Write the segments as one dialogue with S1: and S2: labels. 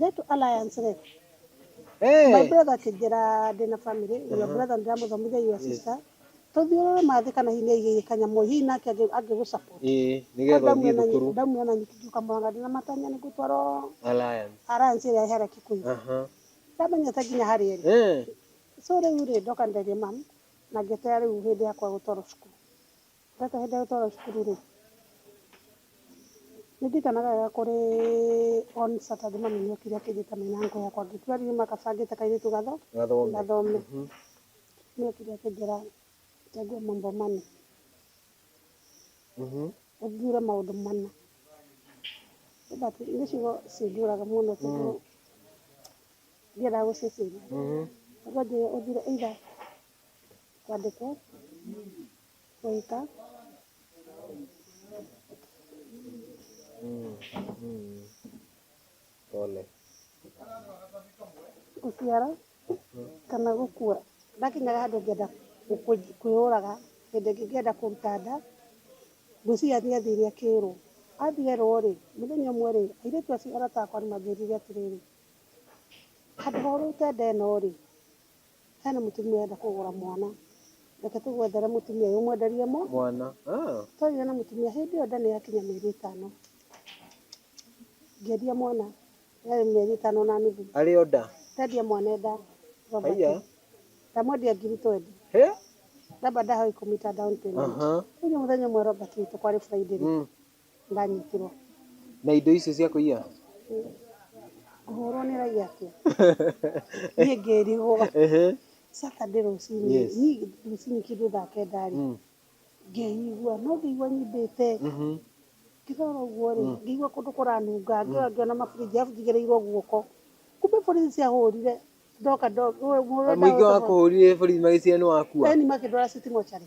S1: Get Alliance rĩ, my brother akĩnjĩra ndĩna family, your brother ndĩramũthomithia your sister, tũthiũrũre mathĩ kana hihi nĩaigĩire kanyamũ, hihi nake angĩ- angĩgũ support. Ĩĩ, Tondũ nĩgetha ndamuona ũthiĩ nyi- thukuru ndamuona nyingĩ ngiuka Mũrang'a ndĩna matanya nĩ ngũtwarwo Alliance. Alliance ĩrĩa ĩhera Kikuyu. Aha. Ndamenyete nginya harĩa ĩrĩ. Eh, So rĩu rĩ, ndoka nderie mum, na ngĩeterera rĩu hĩndĩ yakwa gũtwarwo cukuru. Gaka hĩndĩ ĩrĩa gũtwaragwo cukuru rĩ, nĩ ndirikanaga wega kũrĩ on Saturday mami nĩ okire akĩnjĩta nĩ na uncle yakwa angĩ ĩtwa riuma gabangĩte kairĩtu gathome. Nĩ okire akĩnjĩra chagua mambo manne, ũthuure maũndũ mana. Nĩ ciugo cinjũraga mũno tondũ ndiendaga gũciciria. Akanjĩra ũthuure either kwandĩkwo... Oita. Mm, mm. Pole. Gũciara kana gũkua. Ndakinyaga handũ ngĩenda gũkũ- kwĩyũraga, hĩndĩ ĩngĩ ngĩenda kũruta nda, ngwĩciria athiĩ athire akĩrwo. Athiĩ erwo rĩ, mũthenya ũmwe rĩ, airĩtu acio arata akwa nĩ manjĩrire atĩrĩrĩ, handũ ha ũrute nda ĩno rĩ, Hena mũtumia ũrenda kũgũra mwana. Reke tũgwethere mũtumia ũyũ ũmwenderie mũ. Mwana. Ah. Twarire na mũtumia hĩndĩ ĩyo nda nĩ yakinya mĩeri ĩtano. Ngĩendia mwana yarĩ mĩeri ĩtano na nuthu. Arĩ o nda. Ndendia mwana e nda. Robert. Haiya. Ndamwendia ngiri twendi. He? Robert ndahoe kũmita down payment. Aha. Rĩu nĩ mũthenya ũmwe Robert witũ kwarĩ Friday rĩ. Mm. ndanyitirwo na indo icio cia kũiya ngũhũrwo nĩ raiya atĩa niĩ ngĩrigwo ehe Saturday rũcinĩ Yes. niĩ rũcinĩ kĩndũ thaa kenda rĩ Mm. ngĩigua no ngĩigua nyimbĩte Mhm. ngĩrora ũguo rĩ ngĩigua kũndũ kũranunga ngĩrora ngĩona mabũrĩnji arabu njigĩrĩirwo guoko kumbe bũrĩnji ciahũrire ndoka ndo- mũrũ ũrĩa mũingĩ wa ndahũrĩte kũhũrire borithi magĩciria nĩ wakua beni makĩndwara citi mocarĩ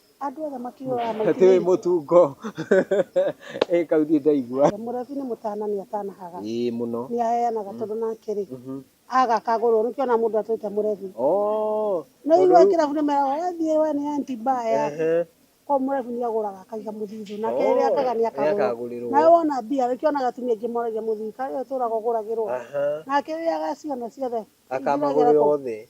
S1: Andũ othe makiugaga maitire. Atiwe mutungo. Eh kau ndie ndaigua. Murebi ni mutana ni atanahaga. Ii muno. Ni aheanaga tondu nake ri. Aga akagurwo ni kiona mundu atwite murebi. Ooh. Ni aigua kirabu ni meraga we thie we ni anti mbaya. Ko murebi ni aguraga akaiga muthithu. Nake riri akaga ni akagurirwo. Nawe wona mbia ri kiona atumia aingi moragia muthithu. Kawe uturaga uguragirwo. Nake riri agaciona ciothe. Akamagurira othe.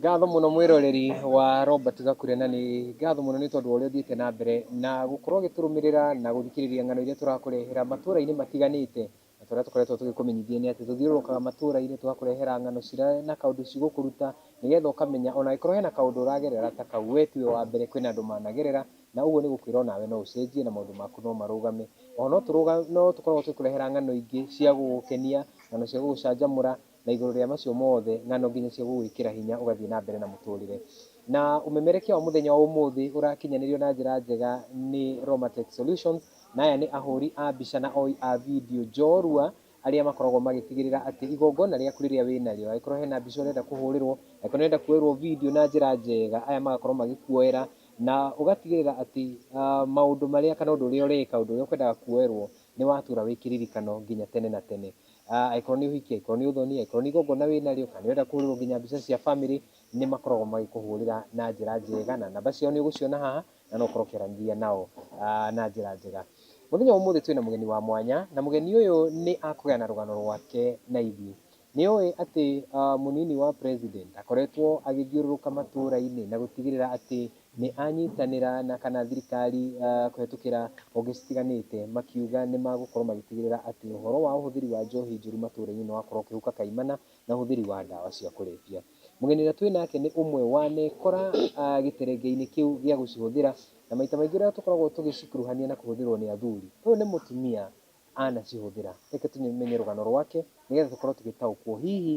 S1: Ngatho mũno mwĩroreri wa Robert Gakure na nĩ ngatho mũno nĩ tondũ wa ũrĩa ũthiĩte na mbere na gũkorwo ũgĩtũrũmĩrĩra na gũthikĩrĩria ng'ano iria tũrakũrehera matũra-inĩ matiganĩte. Na ta ũrĩa tũkoretwo tũgĩkũmenyithia nĩ atĩ tũthiũrũrũkaga matũra-inĩ tũgakũrehera ng'ano cira na kaũndũ cigũkũruta nĩgetha ũkamenya ona angĩkorwo hena kaũndũ ũragerera ta kau we tiwe wa mbere kwĩna andũ managerera na ũguo nĩ gũkwĩra onawe no ũcenjie na maũndũ maku no marũgame. Oho no tũkoragwo tũgĩkũrehera ng'ano ingĩ cia gũgũkenia, ng'ano cia gũgũcanjamũra na igũrũ rĩa macio mothe, ng'ano nginya cia gũgwĩkĩra hinya ũgathiĩ na mbere na mũtũrĩre. Na ũmemerekia wa mũthenya wa ũmũthĩ ũrakinyanĩrio na njĩra njega nĩ Romatech Solutions, na aya nĩ ahũri a mbica na oi a video njorua, arĩa makoragwo magĩtigĩrĩra atĩ igongona rĩaku rĩrĩa wĩ narĩo, angĩkorwo hena mbica ũrenda kũhũrĩrwo, angĩkorwo nĩ ũrenda kuoerwo video na njĩra njega, aya magakorwo magĩkuoera, na ũgatigĩrĩra atĩ maũndũ marĩa kana ũndũ ũrĩa ũreka, ũndũ ũrĩa ũkwendaga kuoerwo, nĩ watura wĩ kĩririkano nginya tene na tene. Angĩkorwo nĩ ũhiki, angĩkorwo nĩ ũthoni, angĩkorwo nĩ igongona wĩnarĩo, kana nĩũrenda kũhũrĩrwo nginya mbica cia bamĩrĩ, nĩmakoragwo magĩkũhũrĩra na njĩra njega, na namba ciao nĩũgũciona haha, na no ũkorwo ũkĩaranĩria nao na njĩra njega. Mũthenya wa ũmũthĩ twĩna mũgeni wa mwanya, na mũgeni ũyũ nĩakũgayana rũgano rwake na ithuĩ. Nĩũĩ atĩ mũnini wa president ndakoretwo agĩthiũrũrũka matũra-inĩ na gũtigĩrĩra atĩ nĩ anyitanĩra na kana thirikari kũhetũkĩra honge citiganĩte makiuga nĩ magũkorwo magĩtigĩrĩra atĩ ũhoro wa ũhũthĩri wa njohi njũru matũra-inĩ nĩ wakorwo ũkĩhuka kaimana na ũhũthĩri wa ndawa cia kũrebia. Mũgeni ũrĩa twĩ nake nĩ ũmwe wanekora gĩterenge-inĩ kĩu gĩa gũcihũthĩra na maita maingĩ ũrĩa tũkoragwo tũgĩcikuruhania na kũhũthĩrwo nĩ athuri. Ũyũ nĩ mũtumia anacihũthĩra, reke tũmenye rũgano rwake nĩgetha tũkorwo tũgĩtaũkwo hihi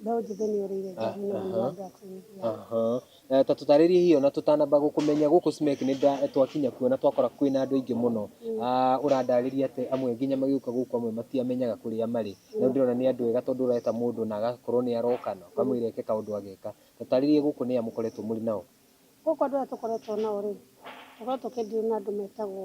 S1: Mbeũ njĩthĩ nĩ ũrĩire njohi na nĩ ma drugs nyingĩ. Aha. Eh, ta tũtarĩrie hihi ona tũtanamba gũkũmenya gũkũ Smek nĩ nda- twakinya kuo na twakora kwĩna andũ aingĩ mũno Ah, ũrandarĩria atĩ amwe nginya magĩũka gũkũ amwe matiamenyaga kũrĩa marĩ no ndĩrona nĩ andũ ega tondũ ũreta mũndũ na agakorwo nĩ aroka na ũkamwĩra eke kaũndũ ageka tũtarĩrie gũkũ nĩ a mũkoretwo mũrĩ nao Gũkũ andũ arĩa tũkoretwo nao rĩ, tũkoretwo tũkĩ deal na andũ metagwo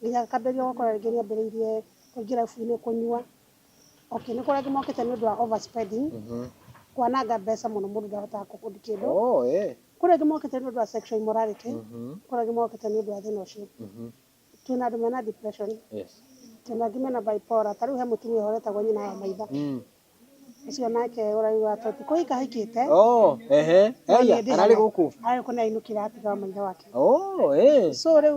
S1: Nginya ngakambĩrĩria gũkora rĩngĩ nĩ ambĩrĩirie kũingĩ rabu-inĩ kũnyua. Okay, nĩ kũrĩa mokĩte nĩ ũndũ wa over spending, kwananga mbeca mũno mũndũ ndahotaga kũ afford kĩndũ. Kũrĩ angĩ mokĩte nĩ ũndũ wa sexual immorality, kũrĩ angĩ mokĩte nĩ ũndũ wa thĩna ũcio. Twĩ na andũ mena depression, twĩ na angĩ mena bipolar, ta rĩu he mũtumia ũyũ wĩtagwo nyina wa maitha. Ũcio nake ũrari wa toti kũu ikahikĩte. Oh, ehe. Eya, ararĩ gũkũ. Ararĩ gũkũ nĩainũkire atiga wa maithe wake. Oh, eh. So rĩu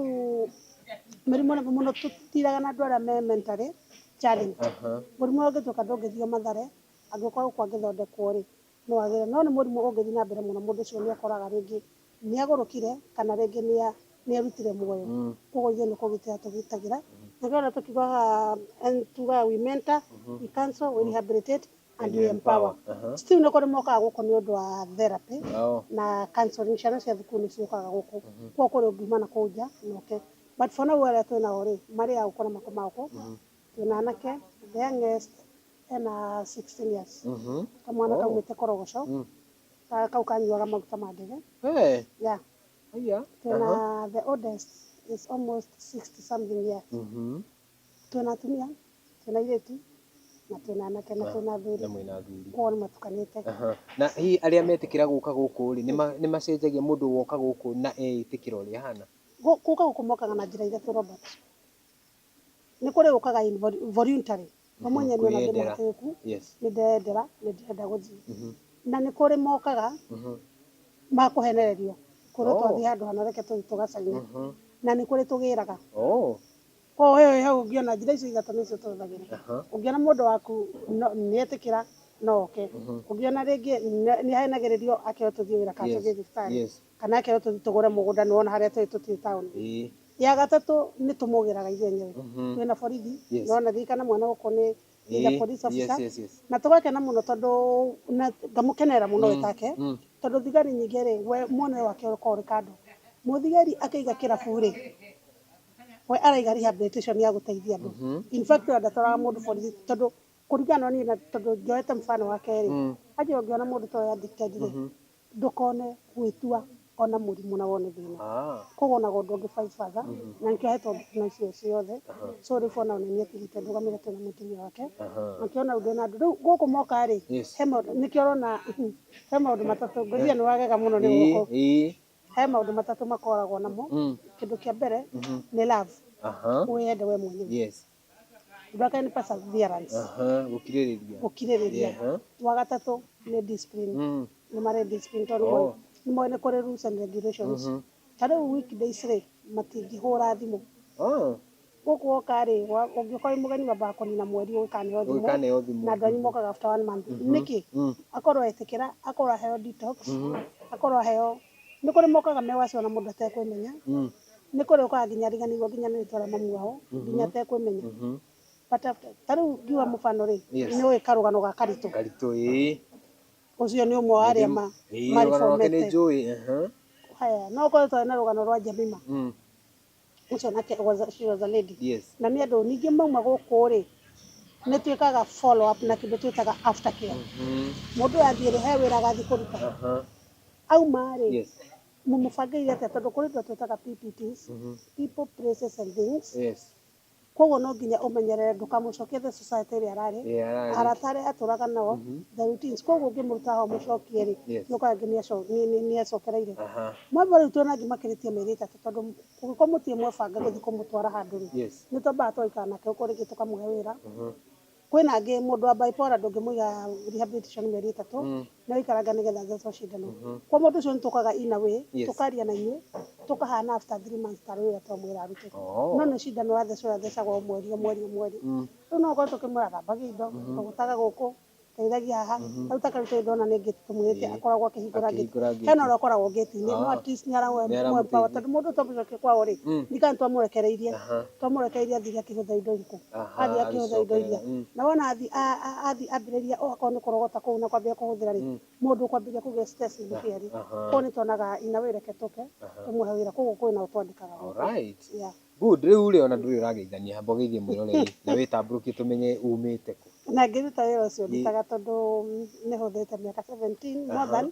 S1: mĩrimũ nĩ mũno tũtiraga na andũ arĩa me mentally challenged. Mũrimũ ũyũ ũngĩtuĩka ndũngĩthio mathare, angĩkorwo gũkũ angĩthondekwo-rĩ, no agĩre. No nĩ mũrimũ ũngĩthiĩ na mbere mũno mũndũ ũcio nĩekoraga rĩngĩ Nĩagũrũkire, kana rĩngĩ nĩa, nĩerutire muoyo. Kwoguo ithuĩ nĩ kũgitĩra tũgitagĩra. Na nĩkĩo ũrona tũkiuga haha, tugaga we mentor, we counsel, we rehabilitate and we empower. Still nĩ kũrĩ mokaga gũkũ nĩ ũndũ wa therapy na counselling. Ciana cia thukuru nĩ ciũkaga gũkũ. Kwoguo kũrĩ ũngiuma na kũu nja na ũke. But for now arĩa twĩ nao rĩ, marĩ a gũkũ na makomaga gũkũ, twĩ na anake, the youngest ena sixteen years. Kamwana kaumĩte Korogoco. Ka- kau kanyuaga maguta ma ndege Eh, yeah haya. twĩna Aha. the oldest is almost 60 something years Mhm. twĩna atumia twĩna airĩtu na twĩna anake na twĩna athuri Na mwĩna athuri. kwao nĩ matukanĩte Aha. Na hihi arĩa metĩkĩra gũka gũkũ rĩ, nĩ ma- nĩ macenjagia mũndũ woka gũkũ na eĩtĩkĩra ũrĩa ahana? Gũ- gũka gũkũ mokaga na njĩra ithatũ Robert nĩ kũrĩ ũkaga involuntary we mwenyewe nĩwona ndĩ Kwĩyendera. mũhatĩrĩku Yes. nĩ ndeyendera nĩ ndĩrenda gũthiĩ Mhm. na nĩ kũrĩ mokaga Mhm. makũhenererio kwĩrwo Oh. twathiĩ handũ hana reke tũthiĩ tũgacaina Mhm. na nĩ kũrĩ tũgĩraga Oh. koguo we wĩ hau ũngĩona njĩra icio ithatũ nĩcio tũhũthagĩra Aha. ũngĩona mũndũ waku no- nĩetĩkĩra no oke Mhm. ũngĩona rĩngĩ nĩ- nĩahenagĩrĩrio ake tũthiĩ wĩra kana Yes. tũthiĩ thibitarĩ Yes. kana ake tũthi tũgũre mũgũnda nĩ wona harĩa tũrĩ tũtirĩ taũni Ĩĩ. ya gatatũ nĩ tũmũgĩraga ithuĩ enyewe Mhm. twĩna borithi Yes. nĩ wona thiĩ kana mwana gũkũ nĩ he's a Ĩĩ. police Yes, officer yes, yes. na tũgakena mũno tondũ na ngamũkenera mũno we take Mm. tondũ thigari nyingĩ rĩ we muonere wake ũkoragwo ũrĩ kando mũthigari akĩiga kĩrabu rĩ we araiga rehabilitation ya gũteithia andũ Mhm. in fact we ndatwaraga mũndũ borithi tondũ kũringana na niĩ na tondũ njoete mfano wake rĩ Mm. aje ũngĩona mũndũ ta ũyũ addicted rĩ ndũkone gwĩtua ona mũrimũ na wone thĩna koguo onaga ũndũ ũngĩ fight further na nĩkĩo ahetwo thigino icio ciothe so rĩu bwana ũyũ nĩetĩkĩrĩte ndũgamĩre twĩna mũtumia wake makĩona ũndũ ena andũ rĩu gũkũ moka rĩ he maũndũ nĩkĩo ũrona he maũndũ matatũ ngwĩciria nĩwagega mũno nĩ gũkũ he maũndũ matatũ makoragwo namo kĩndũ kĩa mbere nĩ love wĩyende we mwenyewe ũndũ wa kerĩ nĩ perseverance Aha, gũkirĩrĩria. gũkirĩrĩria Aha. wa gatatũ nĩ discipline Mm. nĩ marĩ discipline tondũ Oh. moĩ- nĩ moĩ nĩ kũrĩ rules and regulations Mhm. ta rĩu weekdays rĩ matingĩhũra thimũ Ah, gũkũ woka rĩ wa- ũngĩũka wĩ mũgeni wambaga kũnina mweri ũgĩkaneo thimũ ũgĩkaneo thimũ. na andũ anyu mokaga after one month nĩkĩ Mm. akorwo etĩkĩra akorwo aheo detox akorwo aheo nĩ kũrĩ mokaga mewacio na mũndũ atekwĩmenya Mm. nĩ kũrĩa ũkaga nginya ariganĩirwo nginya nĩ rĩtwa rĩa mamu wao nginya atekwĩmenya but after ta rĩu ngiuga mũbano rĩ Yes. nĩ ũĩ karũgano ga karitũ karitũ ĩĩ ũcio nĩ ũmwe wa arĩa ma Ĩĩ, rũgano rwake nĩ maribomete njũĩ aha. haya no korwo twarĩ na rũgano rwa Jemima Mm, ũcio nake was a- she was a lady yes na nĩ andũ ningĩ mauma gũkũ rĩ nĩ twĩkaga follow up na kĩndũ twĩtaga after care Mhm, mũndũ athiĩ rĩ he wĩra agathiĩ kũruta aha, auma rĩ yes mũmũbangeire atĩa tondũ kũrĩ indo twĩtaga PPTs, people, places and things. Yes. Koguo no nginya ũmenyerere ndũkamũcokie the society ĩrĩa ararĩ, Yeah, ararĩ. arata arĩa atũraga nao, Mhm. the routines. Koguo ũngĩmũruta haha ũmũcokie rĩ, Yes. nĩ ũkoraga nginya aco- nĩ- nĩ- nĩ acokereire. Aha. Mwamba rĩu tuona angĩ makĩrĩtie mĩeri ĩtatũ tondũ kũngĩkorwo mũtirĩ mwebanga gũthiĩ kũmũtwara handũ rĩ, Yes. nĩ twambaga tũgaikara nake gũkũ rĩngĩ tũkamũhe wĩra, Mhm. Kwĩna angĩ mũndũ wa bipolar ndũngĩmũiga rehabilitation mĩeri ĩtatũ nĩ aikaranga nĩgetha athecwo cindano. Kwa mũndũ ũcio nĩ tũkaga in a way tũkaria na inyuĩ tũkahana after three months tarĩ ũrĩa twamwĩra arute. No nĩ cindano ũrathecwo ũrathecagwo o mweri o mweri o mweri. Rĩu no ũkore tũkĩmwĩra thambagia indo, rogota gũkũ, teithagia haha. Rĩu ta kĩu tondũ ndĩrona nĩ gate tũmwĩrĩte akoragwo akĩhingũra gate. Hena ũrĩa ũkoragwo gate inĩ no atleast nĩ ara mũempower tondũ mũndũ ũyũ twamũcokia kwao rĩ ndikanĩtwamũrekereirie. twamũrekereirie athiĩ akĩhũtha indo iritũ athiĩ akĩhũtha indo iria na wona athiĩ athiĩ ambĩrĩria okorwo nĩ kũrogota kũu na kwambĩrĩria kũhũthĩra rĩ mũndũ ũkwambĩrĩria kũgĩa stress nĩ fairy koguo nĩ tuonaga in a way reke tũke tũmũhe wĩra koguo kwĩna o twandĩkaga gũkũ. Alright. Yeah. Good. Rĩu rĩ ona ndũrĩ ũrageithania hamba ũgeithie mwĩroreri na wĩtambũrũkie tũmenye umĩte kũ. Na ngĩruta wĩra ũcio ndutaga tondũ nĩ hũthĩte mĩaka 17 more than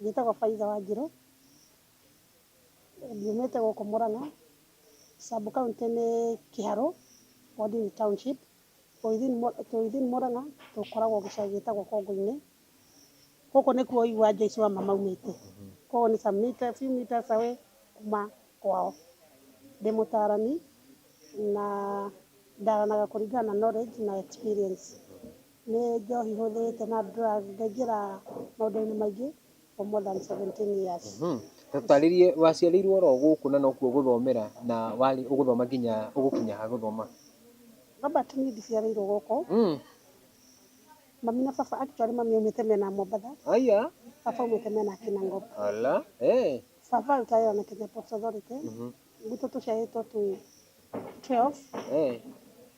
S1: Njĩtagwo Faitha Wanjirũ, nyumĩte gũkũ Mũrang'a, sub county nĩ Kiharũ, ward nĩ township, twĩ within Mũrang'a, tũkoragwo gĩcagi gĩtagwo Kongũ-inĩ, gũkũ nĩkuo ũiguaga Jesu wa ma maumĩte, kũu nĩ some metres, few metres away kuma kwao. Ndĩ mũtarani na ndaranaga kũringana na knowledge na experience. Nĩ njohi hũthĩrĩte na ngaingĩra maũndũ-inĩ maingĩ for more than 17 years. Tũtarĩrie waciarĩirwo oro gũkũ na nokuo ũgũthomera na warĩ ũgũthoma nginya ũgũkinya ha gũthoma? Robert niĩ ndiciarĩirwo gũkũ. Mami na baba, actually mami aumĩte mĩena ya Mombatha, baba aumĩte mĩena ya Kinangop. Baba arutaga wĩra na Kenya Ports Authority. gwitũ tũciarĩtwo twĩ 12 Eh,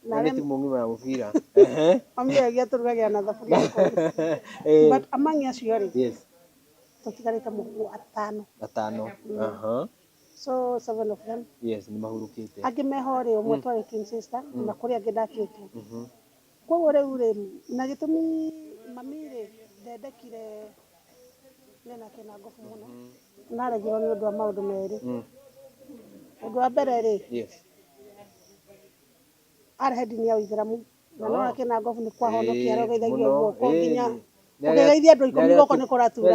S1: na na nĩ rĩm- timu ng'ima ya mũbira Ehe. mami agia tũrugagĩra na thaburia ikũmi Eh, but among acio rĩ yes tũtigarĩte mũkũ atano atano Aha. so seven of them yes nĩ mahurũkĩte angĩ meho rĩ ũmwe twarĩ twin sister na kũrĩ angĩ ndatuĩtwo Mhm. Koguo rĩu rĩ, na gĩtũmi mami rĩ ndendekire nĩ na kĩnangobu mũno, naregirwo nĩ ũndũ wa maũndũ merĩ. Ũndũ wa mbere rĩ, arĩ he ndini ya ũithĩramu na nĩ wona kĩnangobu nĩ kwahonokia arogeithagia guoko nginya kũgeithia andũ ikũmi guoko nĩ kũratura.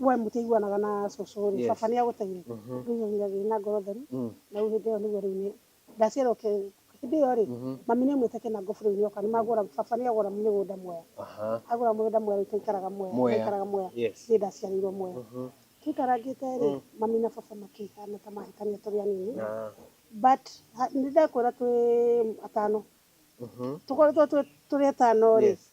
S1: we mũtĩ iguanaga na cũcũ rĩ Yes. baba nĩ agũteire Mhm. ndũigagĩra gĩ na ngoro theru Mm. na rĩu hĩndĩ ĩyo nĩguo rĩu nĩ ndaciarwo ke hĩndĩ ĩyo rĩ Mhm. mami nĩ mwĩte kĩna ngobu rĩu nĩoka nĩ magũra baba nĩ agũra mĩgũnda mwea Aha. agũra mũgũnda mwea rĩu tũikaraga mwea Mwea. tũikaraga mwea Yes. niĩ ndaciarĩirwo mwea Mhm. tũikarangĩte rĩ Mm. mami na baba makĩhana ta mahĩtania tũrĩ anini Na. but ha- nĩ ndakwĩra twĩ atano Mhm. tũkoretwo twĩ- tũrĩ atano rĩ Yes.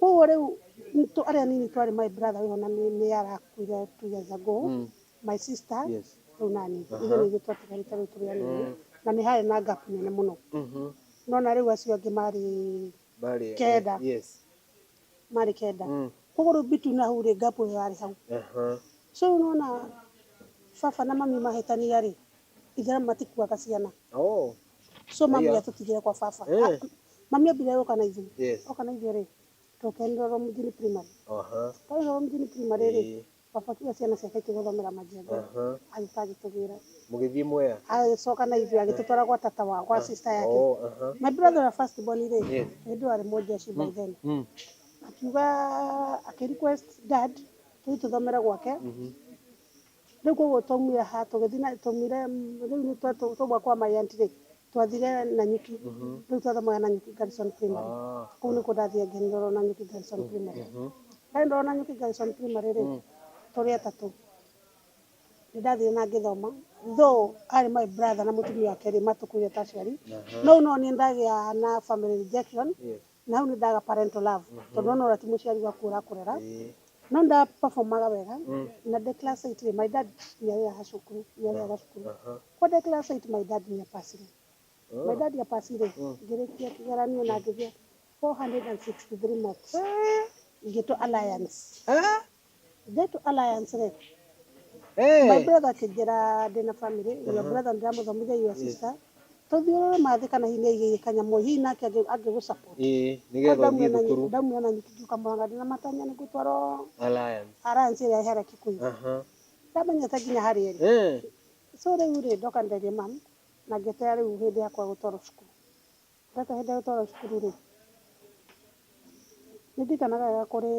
S1: Koguo rĩu nitũ arĩa nini twarĩ my brother wĩho na nĩ nĩ arakuire two years ago Mm. my sister Yes. rĩu nani Aha. ithuĩ nĩithuĩ twatigarĩte rĩu tũrĩ anini Mm. na nĩ harĩ na gap nene mũno Mhm. no na rĩu acio angĩ marĩ Bali. Kenda. Yes. marĩ kenda Mm. koguo rĩu bitu na hau rĩ gap ĩyo yarĩ hau Aha. so rĩu nona baba na mami mahĩtania rĩ Ithe matikuaga ciana. Oh. So mami Aya. atutigire kwa baba. Eh. Ah, Mami ambire yoka na ithuĩ. Yes. Oka na ithuĩ rĩ, tũke Ndoro mjini primary. Aha. Twarĩ Ndoro mjini primary rĩ, Eh. baba akiuga ciana ciake ikĩgũthomera majengo. Aha. Agĩka agĩtũgĩra. Mũgĩthiĩ mwea. Agĩcoka na ithuĩ agĩtũtwara gwa tata wa gwa sister yake. Oh, aha. My brother ũrĩa first born rĩ, Yes. hĩndĩ ĩyo arĩ mũjeshi by then. Mm. Akiuga akĩ request dad tũthiĩ tũthomere gwake. Mhm. Rĩu koguo twaumire haha tũgĩthiĩ na twaumire rĩu nĩ twa twauma kwa my aunt rĩ twathire na nyuki rĩu twathomaga na nyuki Garrison primary kũu nĩkuo ndathire ngĩnirorwo na nyuki Garrison primary ndarĩ ndorwo na nyuki Garrison primary rĩ tũrĩ atatũ nĩ ndathire na ngĩthoma though arĩ my brother na mũtumia wake rĩ matũkuire ta aciari no no niĩ ndagĩa na family rejection Yes. Nau nĩ ndaga parental love tondũ ona ũrĩa ti mũciari gwaku ũrakũrera. No nĩ nda performaga wega na ndĩ class eight rĩ, my dad nĩ arĩhaga cukuru, nĩ arĩhaga cukuru. Kuoguo ndĩ class eight my dad nĩ a pass ire. My dad a pass ire, ngĩrĩkia kĩgeranio na ngĩgĩa four hundred and sixty three marks ngĩtwo alliance. Get Alliance rĩ, my brother akĩnjĩra ndĩna family, your brother ndĩramũthomithia your sister, tũthiũrũre ma thĩ kana hihi nĩ aigĩire kanyamũ, hihi nake angĩ- angĩgũ support. Ĩĩ, Kwa nĩgetha ndamu ũthiĩ ona nyi- thukuru. ndamu ona nyingĩ ingĩũka Mũrang'a ndĩna matanya nĩ ngũtwarwo Alliance. Alliance ĩrĩa ĩhera Kikuyu. Aha. Ndamenyete nginya harĩa ĩrĩ. Eh. So rĩu rĩ, ndoka nderie mum, na ngĩeterera rĩu hĩndĩ yakwa gũtwarwo cukuru. Gaka hĩndĩ ĩrĩa gũtwaragwo cukuru rĩ, nĩ ndirikanaga wega kũrĩ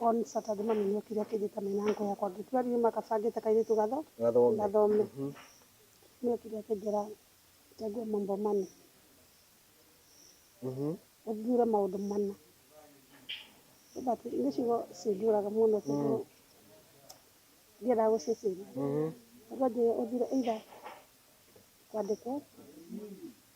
S1: on Saturday mami nĩ okire akĩnjĩta me na uncle yakwa angĩ tũrĩ andũ nĩma gabangĩte kairĩtu gathome, nĩ okire akĩnjĩra chagua mambo manne, ũthuure maũndũ mana, nĩ ciugo cinjũraga mũno tondũ ndiendaga gũciciria, tondũ anjĩrire ũthuure either kwandĩkwo,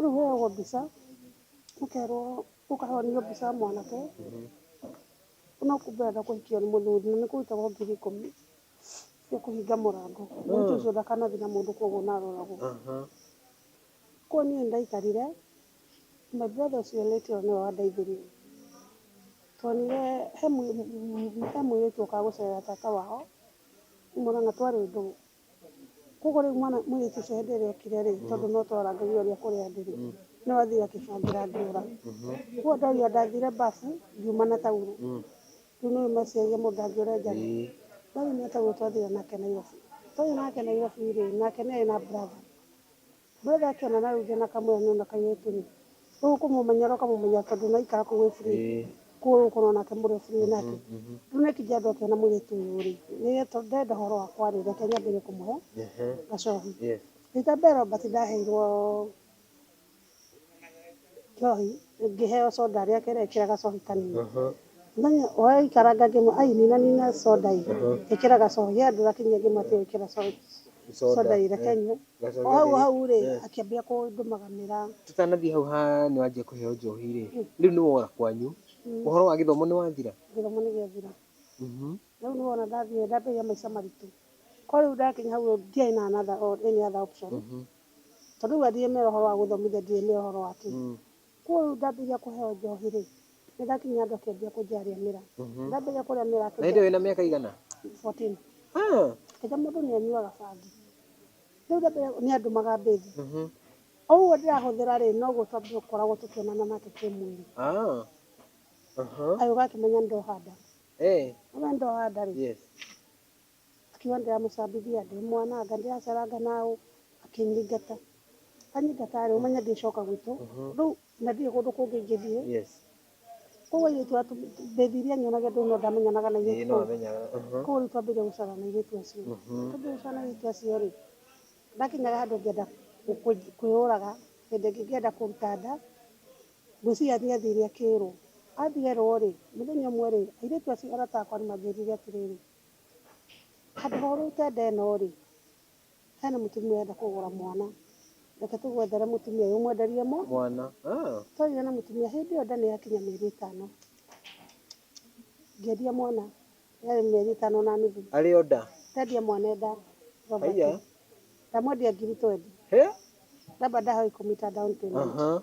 S1: Rĩu ũheagwo mbica, ũkerwo, ũkaheo nĩyo mbica ya mwanake, no kumbe arenda kũhikio nĩ mũthuri, na nĩ kũrutagwo ngiri ikũmi cia kũhinga mũrango, mũirĩtu ũcio ndakanathiĩ na mũndũ kũguo na aroragwo. Kũguo niĩ nĩ ndaikarire, my brother ũcio late ĩyo nĩwe wandeithirie, twonire he mũirĩtu ũkaga gũcerera tata wao, nĩ mwana na twarĩ ndũũ. Koguo rĩu mwana mũirĩtu ũcio hĩndĩ ĩrĩa okire rĩ, tondũ no twarangagĩrio ũrĩa kũrĩa ndĩ rĩ, no athire akĩbangĩra andũ ũra. Koguo ndorio ndathire mbabu ngiuma na taurũ. Rĩu nĩ ũĩ meciria mũndũ ndangĩũra enjaga. Ndorio na taurũ twathire nake Nairobi. Twathire nake Nairobi rĩ, nake nĩ arĩ na brother. Brother akiona na ruge na kamwira ni ona kairetu ri riu ukumumenya ro kamumenya tondu naikara kuu wi free koguo riu ukona onake muri free nake riu neki jadu akiona muiretu uyu ri nire tondu ndirenda uhoro wakwa ri reke nyambirie kumuhe gacohi rita mbere Robert ndaheirwo njohi ngiheo soda aria kere ikira gacohi kanini muthenya uria ikaranga ngimwira ai nina nina soda ii ikira gacohi ye ndurakinyia ngimwira tiga gwikira soda ii reke nyue O hau o hau-rĩ, akĩambĩrĩria kũndũmaganĩra. Tũtanathiĩ hau ha nĩ wanjia kũheo njohi-rĩ, rĩu nĩ wora kwanyu, ũhoro wa gĩthomo nĩ wathira? Gĩthomo nĩ gĩathira. Na rĩu nĩ wona ndathiĩ nĩ ndambĩrĩria maica maritũ. Korũo rĩu ndakinya hau rĩu ndiarĩ na another or any other option. Tondũ rĩu athiĩ mera ũhoro wa gũthomithia ndiũĩ mera ũhoro wa kĩ. Kwoguo rĩu ndambĩrĩria kũheo njohi-rĩ, nĩndakinyire andũ akĩambia kũnjarĩa mĩraa. Ndambĩrĩria kũrĩa mĩraa Na hĩndĩ ĩyo akĩnjarĩa wĩna mĩaka ĩigana? 14. Ah! Akĩnjĩra mũndũ nĩanyuaga bangi. Rĩu ndambĩrĩria nĩandumaga mbĩthi. Mhm. O ũguo ndĩrahũthĩra-rĩ, noguo twambire gũkoragwo tũkĩonana nake kĩmwĩrĩ. Ah! Aha. Agĩũka akĩmenya nĩndoha nda. Eh. Amenya nĩndoha nda-rĩ, Yes. Akiuga, Ndĩramũcambithia ndĩ mwana anga ndĩraceranga na ũ? Akĩnyingata. Anyingata-rĩ, ũmenye ndĩcoka gwitũ. Rĩu na ndirĩ kũndũ kũngĩ ingĩthiĩ. Kũu airĩtu aya ndeciria nyonage ndũĩ no ndamenyanaga na airĩtu kũu. Kũu rĩu twambĩrĩria gũcera na airĩtu acio. Twambĩrĩria gũcera na airĩtu acio-rĩ, ndakinyaga handũ ngĩenda kwĩyũraga, hĩndĩ ĩngĩ ngĩenda kũruta nda, ngwĩciria nĩathire akĩrwo. Athierwo-rĩ, mũthenya ũmwe-rĩ, airĩtu acio arata akwa nĩmanjĩrire atĩrĩrĩ, Handũ ha ũrute nda ĩno rĩ, hena mũtumia ũrenda kũgũra mwana, reke tũgwethere mũtumia ũyũ ũmwenderie mũ, Mwana. Ah. twarĩria na mũtumia hĩndĩ ĩyo nda nĩ yakinya mĩeri ĩtano, ngĩendia mwana yarĩ mĩeri ĩtano na nuthu, Arĩ o nda. ndendia mwana e nda, Robert. Haiya. ndamwendia ngiri twendi, He? Robert ndahoya ikũmi ta down payment. Aha.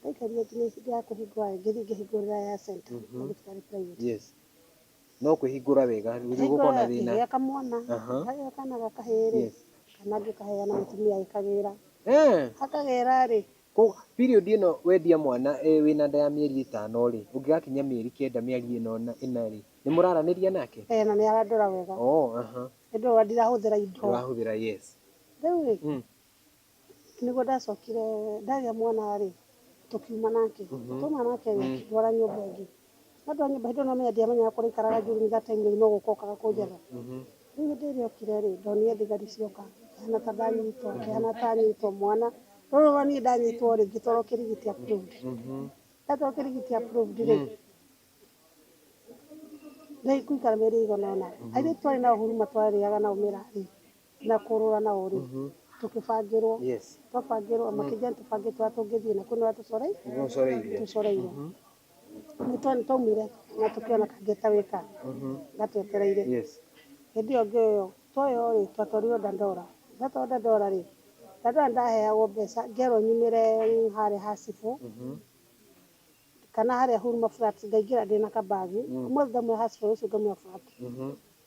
S1: Ndaikaria nginya ihinda rĩa kũhingũra rĩngĩ thiĩ ngĩhingũrĩre aya center ya thibitarĩ private. Yes. No kwĩhingũra wega gũthiĩ gũkorwo na Hingũra thĩna. ngĩgĩa kamwana, Aha. kagĩa kana ga kahĩĩ rĩ, Yes. kana ngĩkaheana mũtumia agĩkagĩra. Eh. Akagĩra rĩ, Ko period ĩno wendia mwana eh, wĩna nda ya mĩeri ĩtano rĩ, ũngĩgakinyia mĩeri kenda mĩeri ĩno na ĩna rĩ, nĩ mũraranĩria nake? eh, na nĩ arandora wega. Oh, aha. Nĩ ndũrona ndirahũthĩra indo. Ndũrahũthĩra yes. Rĩu rĩ, Mm. Nĩguo ndacokire ndagĩa mwana rĩ, tũkiuma nake. Twauma nake rĩ, akĩndwara nyũmba ĩngĩ. Andwara nyũmba hĩndĩ ĩyo nĩ wamenya ndiamenyaga kũrĩa aikaraga Njuguni that time rĩu no gũka okaga kũnjetha. Rĩu hĩndĩ ĩrĩa okire rĩ, ndonire thigari cioka, ngĩhana ta ndanyitwo, ngĩhana ta nyitwo mwana. Ndorora niĩ ndanyitwo rĩ, ngĩtwarwo Kĩrigiti approved. Ndatwarwo Kĩrigiti approved rĩ, gũikara mĩeri ĩigana ũna. Airĩtu twarĩ nao huruma twarĩaga nao mĩraa rĩ, na kũrũra na ũrĩ tũkĩbangĩrwo twabangĩrwo makĩnjani tũbange twa tũngĩthiĩ na kwĩna tũcoreirwo nĩ twaumire na tũkĩona kangeta wĩka gatwetereire hĩndĩ ĩyo ngĩoywo twoywo rĩ twatwarirwo dandora ndatwarwo dandora rĩ dandora nĩ ndaheagwo mbeca ngerwo nyumĩre harĩa ha cibũ kana harĩa huruma flat ngaingĩra ndĩna ka bag ũmũthĩ ndaumĩra ha cibũ rũciũ ngaumĩra flat.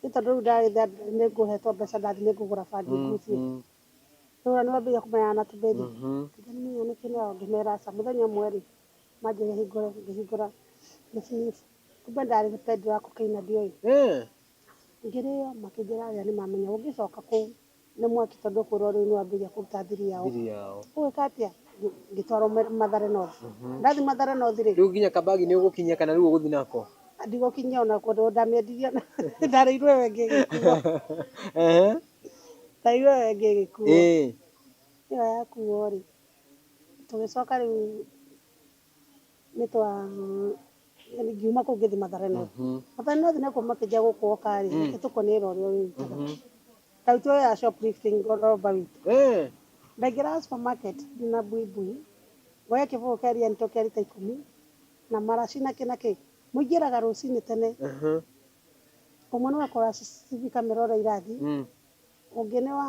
S1: Nĩ tondũ rĩu ndagĩthĩa nĩ ngũhetwo mbeca ndathiĩ nĩ ngũgũra bangi ngucie. Rĩu ona nĩ mambĩrĩria kũmenyana na tũbendi. Tũngĩ nĩ menya nĩkĩ nao ngĩmera aca. Mũthenya ũmwe rĩ, manjĩrire hingũre ngĩhingũra nĩ sniff. Kumbe ndarĩ nĩ pendi wa cocaine na ndioĩ. Ngĩrĩo makĩnjĩra aria nĩ mamenya ũngĩcoka kũu. nĩ mwaki tondũ ũkwĩrwo rĩu nĩ wambĩrĩria kũruta thiri yao. Thiri yao. Ũgwĩka atĩa? Ngĩ- Ngĩtwarwo Ma- Mathare North. Ndathiĩ Mathare North rĩ, Rĩu nginya kabagi nĩ ũgũkinyia kana rĩu ũgũthiĩ nako? ndigũkinyia ona kũndũ ndamĩendirie ona ndarĩirwo ĩyo ĩngĩ ĩgĩkuo. Ehe. Ndarĩirwo ĩyo ĩngĩ ĩgĩkuo. Ĩĩ. Ĩyo yakuo rĩ, tũgĩcoka rĩu nĩ twa yani ngiuma kũu ngĩthi mathare no mathare no thine kũ makĩnjia gũkũ oka rĩ nĩ tũkoni ĩra ũrĩa ũrĩrutaga tarĩu tuoe ya shoplifting roba witũ Eh, ndaingĩraga supermarket na buibui ngoya kĩbũyũ kĩa rianito kĩa rita ikũmi na maraci na kĩ na kĩ mũingĩraga rũcinĩ tene aha, ũmwe nĩ wakora cibi kamera ũrĩa irathi mm. ũngĩ nĩ wa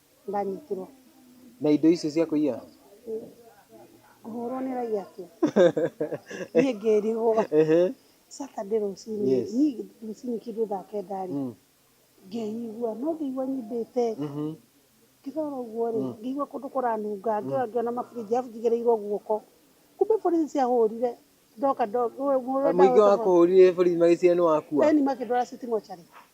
S1: Ndanyitirwo. Na indo icio cia kũiya? Ngũhũrwo nĩ raiya tu. Niĩ ngĩrigwo. Saturday rũcinĩ, niĩ rũcinĩ kĩndũ thaa kenda rĩ, ngĩigua, no ngĩigua nyimbĩte. Ngĩrora ũguo rĩ, ngĩigua kũndũ kũranunga, ngĩrora ngĩona mabũrũri arabu njigĩrĩirwo guoko. Kumbe borithi ciahũrire, ndoka. Mũingĩ wakũhũrire borithi magĩciria nĩ waku a? Ĩni makĩndwara citi mocarĩ.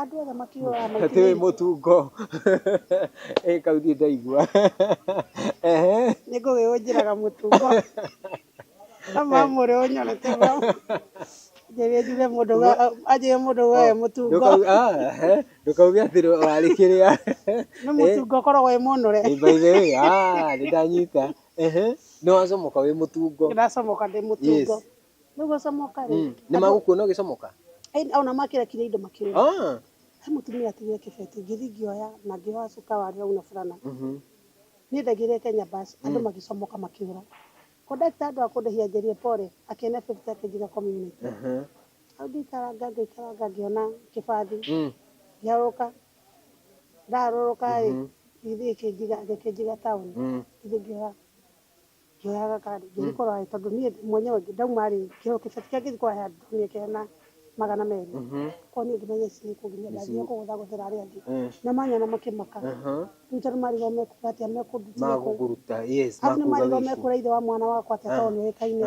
S1: Andũ othe makiugaga na ti wĩ mũtungo ĩ kau niĩ ndaigua ehe nĩ ngũgĩ ũnjĩraga mũtungo no mamũrĩ ũnyonete mau anjĩrĩria njuge mũndũ wa- anjĩrĩria mũndũ wa e mũtungo Ndũkau- ah, ehe, ndũkauge atĩ warĩ kĩrĩa nĩ mũtungo ũkoragwo wĩ mũnũre Ĩ, by the way, ah, nĩ ndanyita ehe nĩ wacomoka wĩ mũtungo ndĩracomoka ndĩ mũtungo yes Nĩ gũcomoka rĩ. Mm. Nĩ magũkuona ũgĩcomoka? Ĩĩ, ona makĩrekire indo makĩũra. Ah. He mũtumia atigire kĩbeti, ngĩthiĩ ngĩoya na ngĩoha cuka wa rĩau na burana. Mhm. Niĩ ndaigĩrĩire Kenya bus, andũ Mm. magĩcomoka makĩũra. Conductor handũ ha kũndĩhia anjĩrire pole, akĩonia fifty yake njiga community. Aha. Hau ngĩikaranga ngĩikaranga ngĩona kĩbathi, Mm. ngĩharũrũka. Ndaharũrũka rĩ, Mhm. gĩthiĩ gĩkĩnjiga gĩkĩnjiga town, Mm. ngĩthiĩ ngĩoya. Ngĩoyaga karĩ ngĩgĩkorwo harĩ tondũ niĩ mwenyewe ndauma rĩ kĩheo kĩbeti kĩrĩa ngĩthiĩ kũrĩha ndonire kĩrĩ na magana merĩ koguo niĩ ngĩmenya ici nĩ kũgiria ndathiire kũgũthagũthĩra arĩa angĩ na manyona makĩmaka rĩu tondũ marĩrwo mekuga atĩa mekũndutire kũ arabu nĩ marĩrwo mekũra ithe wa mwana wakwa atĩa tondũ nĩoĩkaine.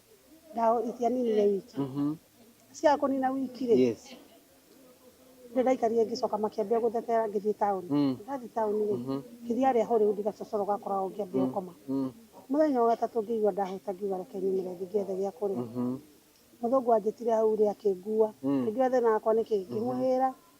S1: ndawa itianinire wiki Mhm. ciaga kũnina wiki rĩ Yes. nĩ ndaikarire ngĩcoka makĩambia gũthekera ngĩthiĩ taũni Mm. ndathiĩ taũni rĩ Mhm. ngĩthiĩ harĩa hũrĩ undi gacocoro gakoragwo ngĩambia gũkoma Mm. mũthenya wa gatatũ ngĩigua ndahũta ngiuga reke nyumĩre thiĩ ngethe gĩa kũrĩa Mhm. mũthũngũ anjĩtire hau rĩ akĩngua Mm. akĩnjũra thĩna wakwa nĩ kĩĩ ngĩmũhĩra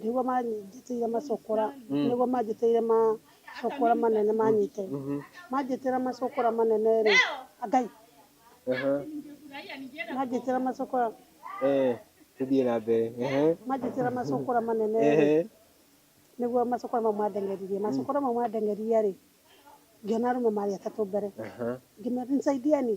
S1: nĩguo manjĩtĩire macokora mm. nĩguo manjĩtĩire macokora manene manyite mm -hmm. manjĩtĩra macokora manene rĩ ngai uh -huh. manjĩtĩra macokora eh tũthiĩ na mbere manjĩtĩra macokora manene rĩ nĩguo macokora mau mandeng'eririe mm. macokora mau mandeng'eririe rĩ ngĩona arũme marĩ atatũ mbere ngĩmera nisaidieni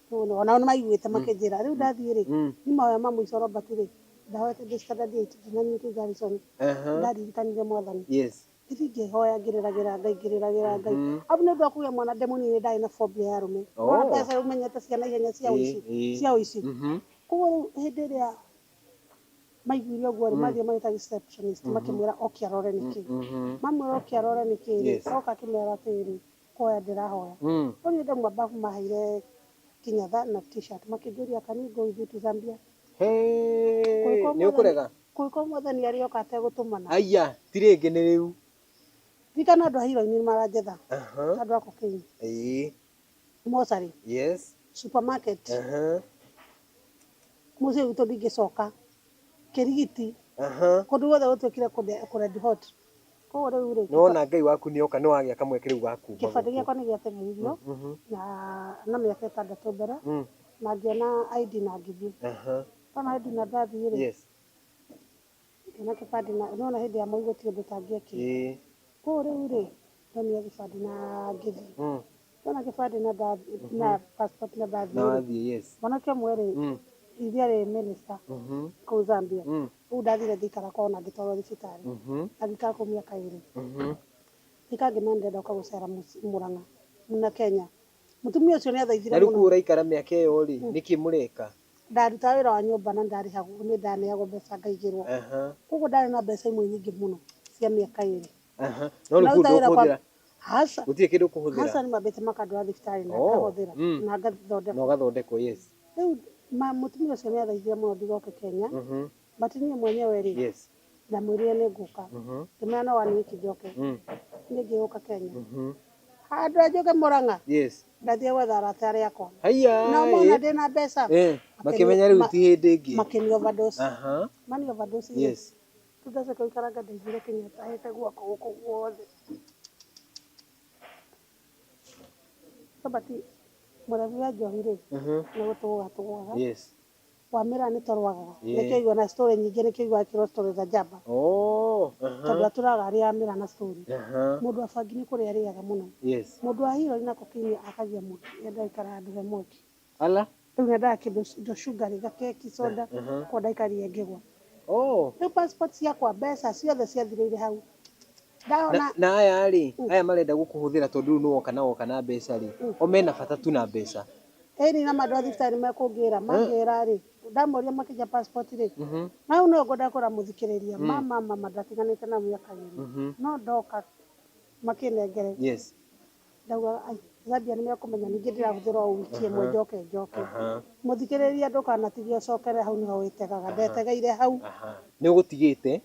S1: Nĩwona, o nao nĩ maiguĩte makĩnjĩra. Rĩu ndathiĩ-rĩ, nĩ mahoya ma mũico Robert rĩ, ndahoete ndĩ standard eight, ndinanyita Garrison, ndaririkanirie Mwathani. Ngĩthiĩ ngĩhoya ngĩrĩragĩra Ngai, ngĩrĩragĩra Ngai. Arabu nĩ ũndũ wa kũgĩa mwana ndĩ mũnini nĩ ndarĩ na phobia ya arũme. Nĩwona mbeca rĩu menyete cia naihenya cia ũici, cia ũici. Kuoguo rĩu hĩndĩ ĩrĩa maiguire ũguo-rĩ, mathiĩ magĩta receptionist makĩmwĩra oke arore nĩ kĩĩ. Mamwĩra oke arore nĩ kĩĩ-rĩ, oka akĩmera atĩrĩrĩ, Oya ndĩrahoya. Rĩu nĩ ndauma bafu maheire kĩnyatha na t-shirt makĩnjũria can we go with you to Zambia? Hĩĩ! Nĩ ũkũrega? Kũngĩkorwo mwathani arĩ oka ategũtũmana. Aiya! Ti rĩngĩ nĩ rĩu. Ririkana andũ a hiro-inĩ nĩ maranjetha. Andũ a cocaine. Mocarĩ. Supermarket. Mũciĩ gwitũ ndingĩcoka. kĩrigiti Aha. kũndũ guothe gũtuĩkire kũnde- kũred hot koguo rĩu rĩ Nĩwona Ngai waku nĩoka nĩwagĩa kamweke rĩu gaku. kĩbandĩ gĩakwa nĩ gĩategeirwo Mhm. na na mĩaka ĩtandatũ mbere Mm. na ngĩona ID na ngĩthiĩ Aha. ndona ID na ndathiĩ rĩ Yes. ngĩona kĩbandĩ na nĩwona hĩndĩ ya moi gũtirĩ ũndũ ũtangĩekire Ĩĩ. Kũu rĩu-rĩ, ndonia gĩbandĩ na ngĩthiĩ. Ndona gĩbandĩ na passport na ndathiĩ-rĩ, mwanake ũmwe-rĩ, ithe arĩ minister kũu Zambia, rĩu ndathire ngĩikara kwao na ngĩtwarwo thibitarĩ na ngĩikara kũu mĩaka ĩrĩ. Ngĩka ngĩmera nĩndĩrenda gũka gũcera Mũrang'a na Kenya, Mũtumia ũcio nĩathaithire Na rĩu mũno. kũu ũraikara mĩaka ĩyo-rĩ, nĩkĩ mũreka? Ndarutaga wĩra wa nyũmba na ndarĩhagwo, nĩ ndaneagwo mbeca ngaigĩrwo. Aha. Kwoguo ndarĩ na mbeca imwe nyingĩ mũno cia mĩaka ĩrĩ. Aha. No rĩu kũu Ndaruta wĩra kwa- ndũkũhũthĩra? Aca. Gũtirĩ kĩndũ ũkũhũthĩra? Aca nĩmambĩte makandwara thibitarĩ na Oh, ngahũthĩra mm. na Na ngathondekwo. ũgathondekwo, yes. Rĩu ma- mũtumia ũcio nĩathaithire mũno ndigoke Kenya, Mhm. but niĩ mwenyewe-rĩ, Yes. ndamwĩrire nĩ ngũka ngĩmwĩra no one week njoke nĩ ngĩũka Kenya handũ ya njoke Murang'a yes ndathiĩ gwetha arata arĩa akwa haiya na mona eh, ndĩ na mbeca eh, makĩmenya rĩu ti hĩndĩ ĩngĩ makĩni overdose aha mani overdose rĩ, yes rĩu ndacoka gũikaranga ndaiguire Kenyatta ahete guoko gũkũ guothe Robert mũrebi wa njohi rĩ aha nĩ gũtũgũga tũgũgaga yes Wamĩra nĩ torwagaga. Ĩĩ. Nĩkĩo ũiguaga na story nyingĩ nĩkĩo ũiguaga ĩkĩrwo story za Jaba. Ooh. Aha. Tondũ aturaga arĩ Amĩra na story. Aha. Mũndũ wa bangi nĩ kũrĩa arĩaga mũno. Yes. Mũndũ wa hero nĩ na kokaini akagia mũndũ. Nĩendaga gũikara handũ he mwaki. Ala. Rĩu nĩendaga kĩndũ indo sugary, gakeki, soda. Aha. Koguo ndaikari ĩngĩgwa. Ooh. Rĩu passport ciakwa, mbeca, ciothe ciathirĩire hau. Ndarora na, na aya rĩ Mm. aya marenda gũkũhũthĩra tondũ rĩu nĩwoka na woka na mbeca rĩ Mm. o mena bata tu na mbeca ĩni na mandũ a thibitarĩ mekũngĩra mangĩra rĩ ndamoria makĩnja passport rĩ Mhm, na rĩu nĩwe ngwenda kũra mũthikĩrĩria Mm. mama mama ndatiganĩte na mĩaka ĩrĩ mhm. no ndoka makĩnengere yes ndauga "Ai, Zambia nĩ mekũmenya ningĩ ndĩrahũthĩra o wiki ĩmwe Aha. njoke njoke aha mũthikĩrĩria ndũkanatige ũcokere hau nĩho wĩtegaga ndetegeire hau aha nĩ ũgũtigĩte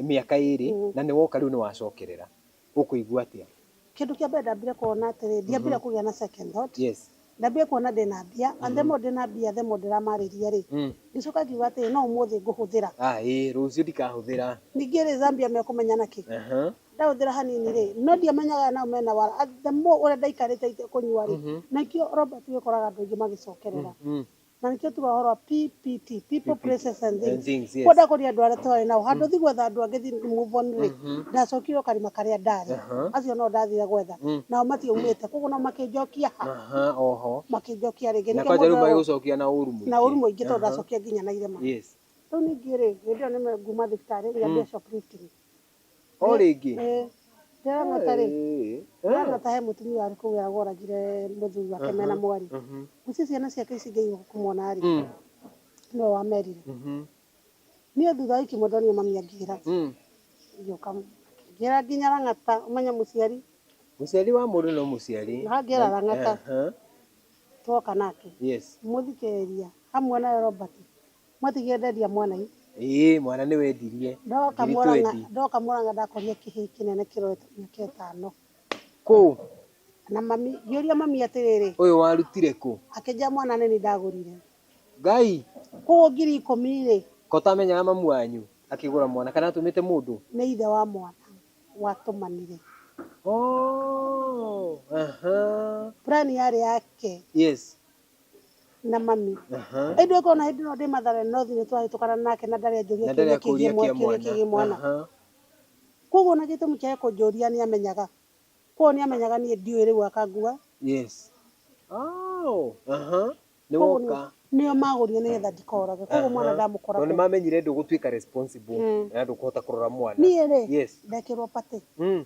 S1: mĩaka ĩrĩ na nĩ woka rĩu nĩ wacokerera, ũkũigua atĩa? Kĩndũ kĩa mbere ndambire kuona atĩrĩ, ndiambire kũgĩa na second thought, ndambire kuona ndĩna mbia, and the more ndĩna mbia the more ndĩramarĩria rĩ, ngĩcoka ngiuga atĩrĩ no ũmũthĩ ngũhũthĩra. Rũciũ ndikahũthĩra. Ningĩ rĩ Zambia mekũmenya na kĩ? Ndahũthĩra hanini rĩ, no ndiamenyaga aya nao mena wara, and the more ũrĩa ndaikarĩte itekũnyua rĩ, na nĩkĩo Robert wĩkoraga andũ aingĩ magĩcokerera. Na nĩkĩo tugaga ũhoro wa PPT, people, places and And things. things, yes. Kwenda kũria andũ arĩa twarĩ nao. Handũ thi gwetha andũ angĩ thi move on rĩ, ndacokire o karima karĩa ndarĩ. Acio no ndathire gwetha. Nao matiaumĩte. Koguo nao makĩnjokia ha? Aha, oho. Makĩnjokia rĩngĩ. Na Nĩkĩo kwanja rĩu mũndũ arĩ- magĩgũcokia na ũru mũingĩ. na ũru mũingĩ tondũ ndacokia nginya na irema. Yes. Rĩu ningĩ rĩ, hĩndĩ ĩyo nĩme nguma thibitarĩ ngĩambia shoplifting. O rĩngĩ? Ĩĩ. Ndĩrona ta rĩ, ndĩrona ta he mũtumia warĩ kũu wĩra woragire mũthuri wake mena mwarĩ. Ũcio ciana ciake ici ngĩigua kũmwona rĩ, nĩwe wamerire. Niĩ thutha wa wiki ĩmwe ndonire mami angĩra, ngĩũka ngĩra nginya Lang'ata, ũmenye mũciari. Mũciari wa mũndũ no mũciari. Angĩra Lang'ata, twoka nake. Yes. Mũthikĩrĩria, hamwe nawe Robert, Mwatigia enderia mwana ii. Ĩĩ mwana nĩwendirie. Ndoka Mũrang'a ndoka Mũrang'a ndakorire kĩhĩi kĩnene kĩrorete mĩaka ĩtano. Kũũ? Na mami ngĩũria mami atĩrĩrĩ. Ũyũ warutire kũ? Akĩnjĩra mwana nĩ niĩ ndagũrire. Ngai! Kũũ ngiri ikũmi-rĩ. Ka ũtamenyaga mamu wanyu akĩgũra mwana kana atũmĩte mũndũ? Nĩ ithe wa mwana watũmanire. Ooh! Aha! Plan yarĩ yake. Yes. na mami Aha. ĩndĩ ũkorwo na hĩndĩ ĩno ndĩ mathare no thiĩ nĩtwahĩtũkana nake na ndarĩ anjũria Na ndarĩ kĩũria akũria kĩgiĩ kĩa mwa- kĩũria kĩgiĩ mwana. mwana Aha. koguo ona gĩtũmi kĩa kũnjũria nĩamenyaga koguo nĩamenyaga niĩ ndiũĩ rĩu akangua Yes. Oh. Aha. Nĩ Koguo nĩ- woka. nĩo magũrire nĩgetha ndikorage koguo mwana Aha. ndamũkora Tondũ kũ. nĩmamenyire ndũgũtuĩka responsible Mm. na ndũkũhota kũrora mwana. niĩ rĩ Yes. ndekĩrwo patĩ Mm.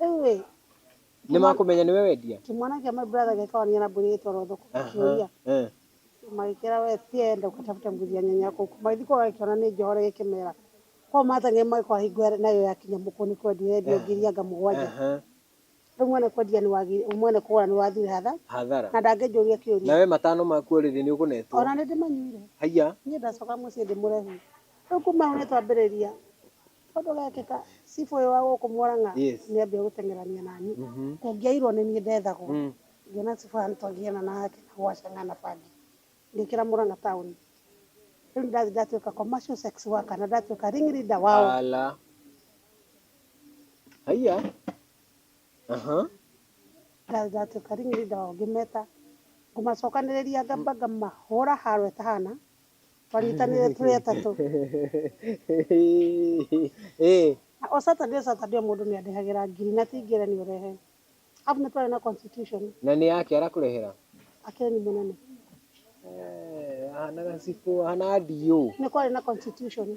S1: Rĩu rĩ, Nĩ makũmenya nĩwe wendia? kĩmwana kĩa my brother gĩkaonania na mbũri ĩgĩtwarwo thoko gĩkĩũria, Eh. magĩkĩra we ti enda ũgatafute mbuzi ya nyanya kũu. Magĩthiĩ kũu agagĩkĩona nĩ njohore gĩkĩmera korwo mateng'e magĩkora hingo ĩyo nayo yakinya mũkũ nĩ kwendio yendio ngiri anga mũgwanja. Aha. Rĩu mwene kwendia nĩ wagire, mwene kũgũra nĩ wathire hathara Hathara. na ndangĩnjũria kĩũria. Nawe matano maku o rĩrĩ nĩ ũkũnetwo. Ona nĩ ndĩmanyuire. Haiya. Niĩ ndacoka mũciĩ ndĩmũrehire. Rĩu kuma hau nĩ twambĩrĩria Ũndũ ũgekĩka cibũ ũyũ wa gũkũ Mũrang'a nĩ ambia gũteng'erania na niĩ. Kũngĩairwo nĩ niĩ ndethagwo, ngĩona cibũ haha nĩ twangĩgiana nake na gwacang'a na bangi ngĩkĩra Mũrang'a taũni. Rĩu nĩ ndathiĩ ndatuĩka commercial sex worker na ndatuĩka ring leader wao. Ndathiĩ ndatuĩka ring leader wao ngĩmeta, ngũmacokanĩrĩria ngamba ngamahũra haro ĩtahana. Twanyitanĩire tũrĩ atatũ. Ĩĩ. Na o Saturday o Saturday o mũndũ nĩ andĩhagĩra ngiri na ti ngerenio ũrehe. Arabu nĩ twarĩ na constitution. Na nĩ yake arakũrehera? Akeni mũnene. Eh, ahanaga cibũ, ahanaga DO. Nĩ kwarĩ na constitution.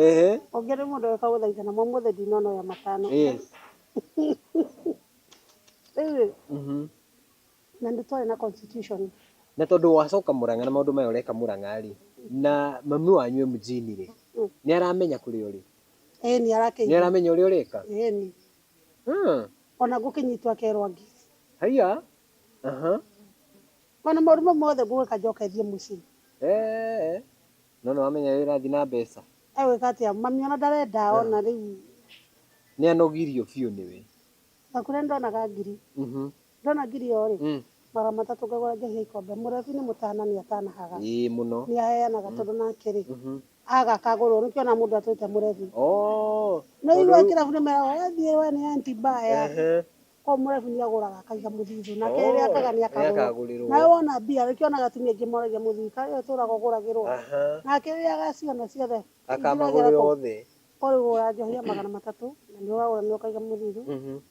S1: Ehe. Ũngĩ nĩ mũndũ ũgĩũka gũthaithana, ma ũmũthĩ ndinona ũrĩa matano. Yes. Rĩu rĩ, Na nĩ twarĩ na constitution. Na tondũ wacoka Murang'a na maũndũ maya ũreka Murang'a rĩ, na mami wanyu e mjini rĩ, nĩ aramenya kũrĩa ũrĩ? Ĩĩ nĩ arakĩigua. Nĩ aramenya ũrĩa ũreka? Ĩĩ nĩ. Hmm. Ona ngũkĩnyitwo akerwo angĩre. Haiya. Aha. Ona maũndũ mau mothe ngũgĩka njoke thiĩ mũciĩ. Eee. No nĩ wamenya ũrĩa ũrathiĩ na mbeca? Egwĩka atĩa? Mami ona ndarenda ona rĩu. Nĩ anogirio biũ nĩwe. Gakure nĩ ndonaga ngiri. Mhm. Ndona ngirio rĩ, Mm. mara matatũ ngagũra njohi ya ikombe. Mũrebi nĩ mũtana nĩ atanahaga. Ĩĩ mũno. Nĩ aheanaga tondũ nake rĩ, Mhm. aga akagũrwo. Nĩkĩo ona mũndũ atwĩte mũrebi. Oh. Nĩ ũiguaga Tondũ- kĩrabu nĩ meraga we thiĩ we nĩ anti mbaya. Ehe. Koguo mũrebi nĩ agũraga akaiga mũthithũ. Nake Oh, rĩrĩa akaga nĩ nĩ akagũrwo. akagũrĩrwo. Nawe wona mbia rĩ, ũkĩona atumia aingĩ moragia mũthii kaĩ ũyũ ũtũraga ũgũragĩrwo. Aha. Nake rĩrĩa agaciona ciothe. Akamagũrĩra othe. Ũrĩgũra njohi ya magana matatũ na nĩ ũragũra nĩ ũkaiga mũthithũ. Mhm.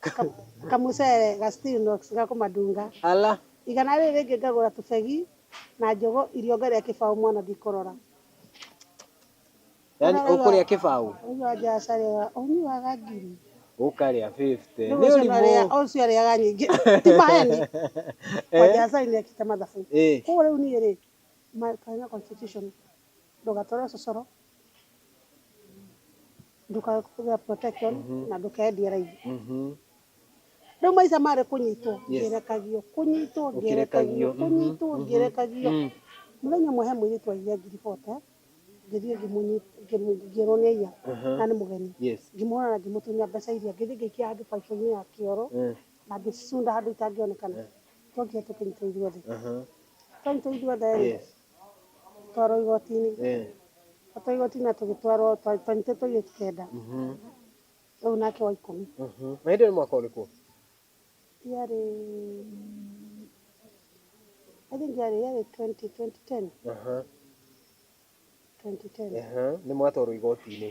S1: Ka- kamucere ga Stilnox ga kũmadunga Ala. igana rĩrĩ rĩngĩ ngagũra tũbegi na njũgũ irio ngarĩa kĩbaũ mwana ndikũrora Yani Ũrarora. ũkũrĩa kĩbaũ. ũguo anja acarĩaga ũnyuaga ngiri Ũkarĩa 50. rĩu Nĩ ũcio ũrimũ. narĩa ũcio arĩaga nyingĩ ti maheni anja Eh. acari nĩ ekĩte mathabu Eh. koguo rĩu niĩ rĩ my- my constitution ndũgatware ũcocoro ndũkae kũgĩa protection Mhm. na ndũkendia raithi Mhm. rĩu maica marĩ kũnyitwo Yes. ngĩrekagio kũnyitwo Ũkĩrekagio, ngĩrekagio mhm, kũnyitwo mhm. ngĩrekagio Mm. mũthenya ũmwe he mũirĩtu aigire ngiribote ngĩthiĩ ngĩmũnyi- ngĩmũ- ngĩrwo nĩ aiya Aha. na nĩ mũgeni Yes. ngĩmuona na ngĩmũtunya mbeca iria ngĩthiĩ ngĩikia handũ baibũ-inĩ ya kĩoro Eh, na ngĩcicunda handũ itangĩonekana Eh. twokire tũkĩnyitwo ithuothe Aha. twanyitwo ithuothe Yes. Twarwo igoti-inĩ, twatwarwo igoti-inĩ na tũgĩtwarwo, twanyitĩtwo tũirĩtu kenda, rĩu nake wa ikũmi. Na hĩndĩ ĩyo nĩ mwaka ũrĩkũ? Yarĩ, I think yarĩ yarĩ twenty twenty ten, twenty ten. Nĩ mwatwarwo igoti-inĩ.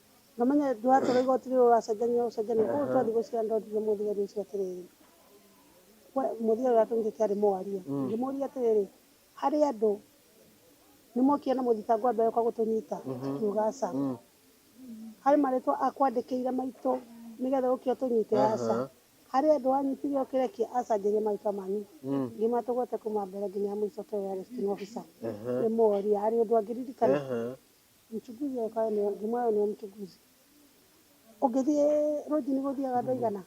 S1: Na ũmenye ndũratwara igoti rĩrĩa ũracenjania ũcenjania. Koguo twathiĩ gwĩ cira nĩ ndonire mũthigari ũcio atĩrĩrĩ, we mũthigari ũrĩa twamũikĩtie arĩ mwaria. Ngĩmũria atĩrĩrĩ, harĩ andũ nĩ mokire na mũthitangwo wa mbere ũka gũtũnyita? Akiuga aca. Harĩ marĩtwa akwandĩkĩire maitũ nĩ getha ũke ũtũnyite? Aca. Harĩ andũ wanyitire ũkĩre kĩ? Aca, njarĩria marĩtwa manyu. Ngĩmatũgweta kuma mbere nginya mũico toyo yarĩ sitting officer. Ngĩmũria harĩ ũndũ angĩririkana? Mchuguzi oka ene ngima ene mchuguzi. Ũngĩthiĩ rũnjini gũthiaga andũ aigana?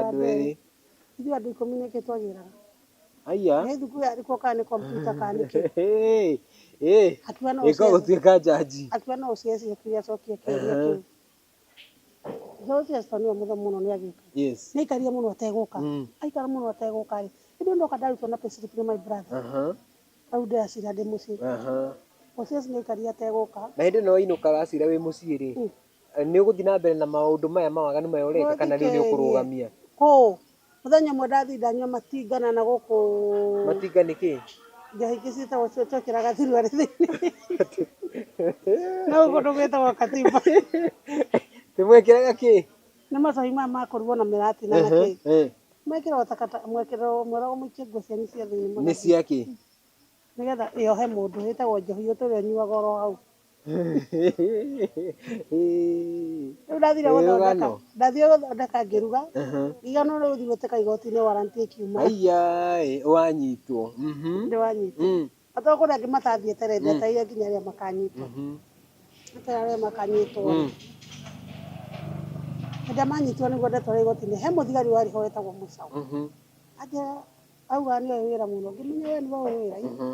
S1: Andũ erĩ. Ithuĩ andũ ikũmi nĩkĩ twagĩraga? Aya. Nĩ thukuru yarĩkwo kana nĩ kompiuta kana nĩ kĩ? Ĩka gũtuĩka jaji. Akiuga no ũciaci akiuga acokie kĩũria kĩu. Ũhoro ũcio Esther nĩwe mũthomu mũno nĩ agĩka. Yes. Nĩaikarire mũno ategũka. Mm. Aikara mũno ategũka rĩ. Hĩndĩ ndoka ndarutwo na payslip nĩ my brother. Aha. Rĩu ndĩracira ndĩ mũciĩ. Aha. Ũcio nĩaikarire ategũka. Na hĩndĩ no inũka wacira wĩ mũciĩ rĩ. Mm. Nĩ ũgũthiĩ na mbere na maũndũ maya ma waganu maya ũreka kana rĩu nĩ ũkũrũgamia? Kũ? Mũthenya ũmwe ndathinda nyua matinga na nagũkũ matinga nĩ kĩ njohi ingĩ ciĩtagwo cio twekĩraga thuruarĩ thĩinĩ no kũndũ gwĩtagwo katimba nĩmwekĩraga kĩ nĩ macohi maya makũrugwo na mĩrati na nakĩ Eh, mwekĩrwo takata mwekĩrwo mwĩragwo mũikie nguo cianyu cia thĩinĩ nĩ mũgathiĩ cia kĩ nĩgetha ĩohe mũndũ ĩtagwo njohi ũtũrĩa ũnyuaga oro hau Rĩu ndathire gũthondeka ndathire gũthondeka ngĩruga igana rĩu thiĩ gwĩtĩka igoti-inĩ warrant ĩkiuma Aiyaĩ wanyitwo. Mhm. nĩ wanyitwo Mm. na tondũ kũrĩ angĩ matathiĩte rĩ ndetereire nginya rĩrĩa makanyitwo Mhm. ndetereire rĩrĩa makanyitwo rĩ Mm. hĩndĩ ĩrĩa manyitwo nĩguo ndetwara igoti-inĩ he mũthigari warĩ ho wetagwo mũcaũ Mhm. anjĩra auga nĩ ũĩ wĩra mũno ngĩmenya we nĩ ũĩ wĩra Mhm.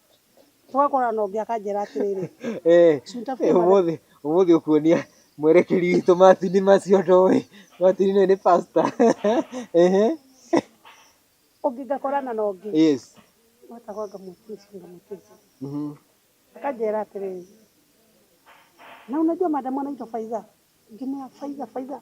S1: tũgakorana ũngĩ akanjĩra atĩrĩrĩ Eh, Sunta eh, Fuma- ũmũthĩ ũmũthĩ ũkuonia mwerekeri witũ macini macio ndoĩ macini nĩ nĩ pasta Ehe. ũngĩ ngakorana na ũngĩ yes watakorwo ngamũteca ngamũteca Mhm. akanjĩra atĩrĩrĩ na unajua madam anaitwa Faiza ngimwĩra Faiza Faiza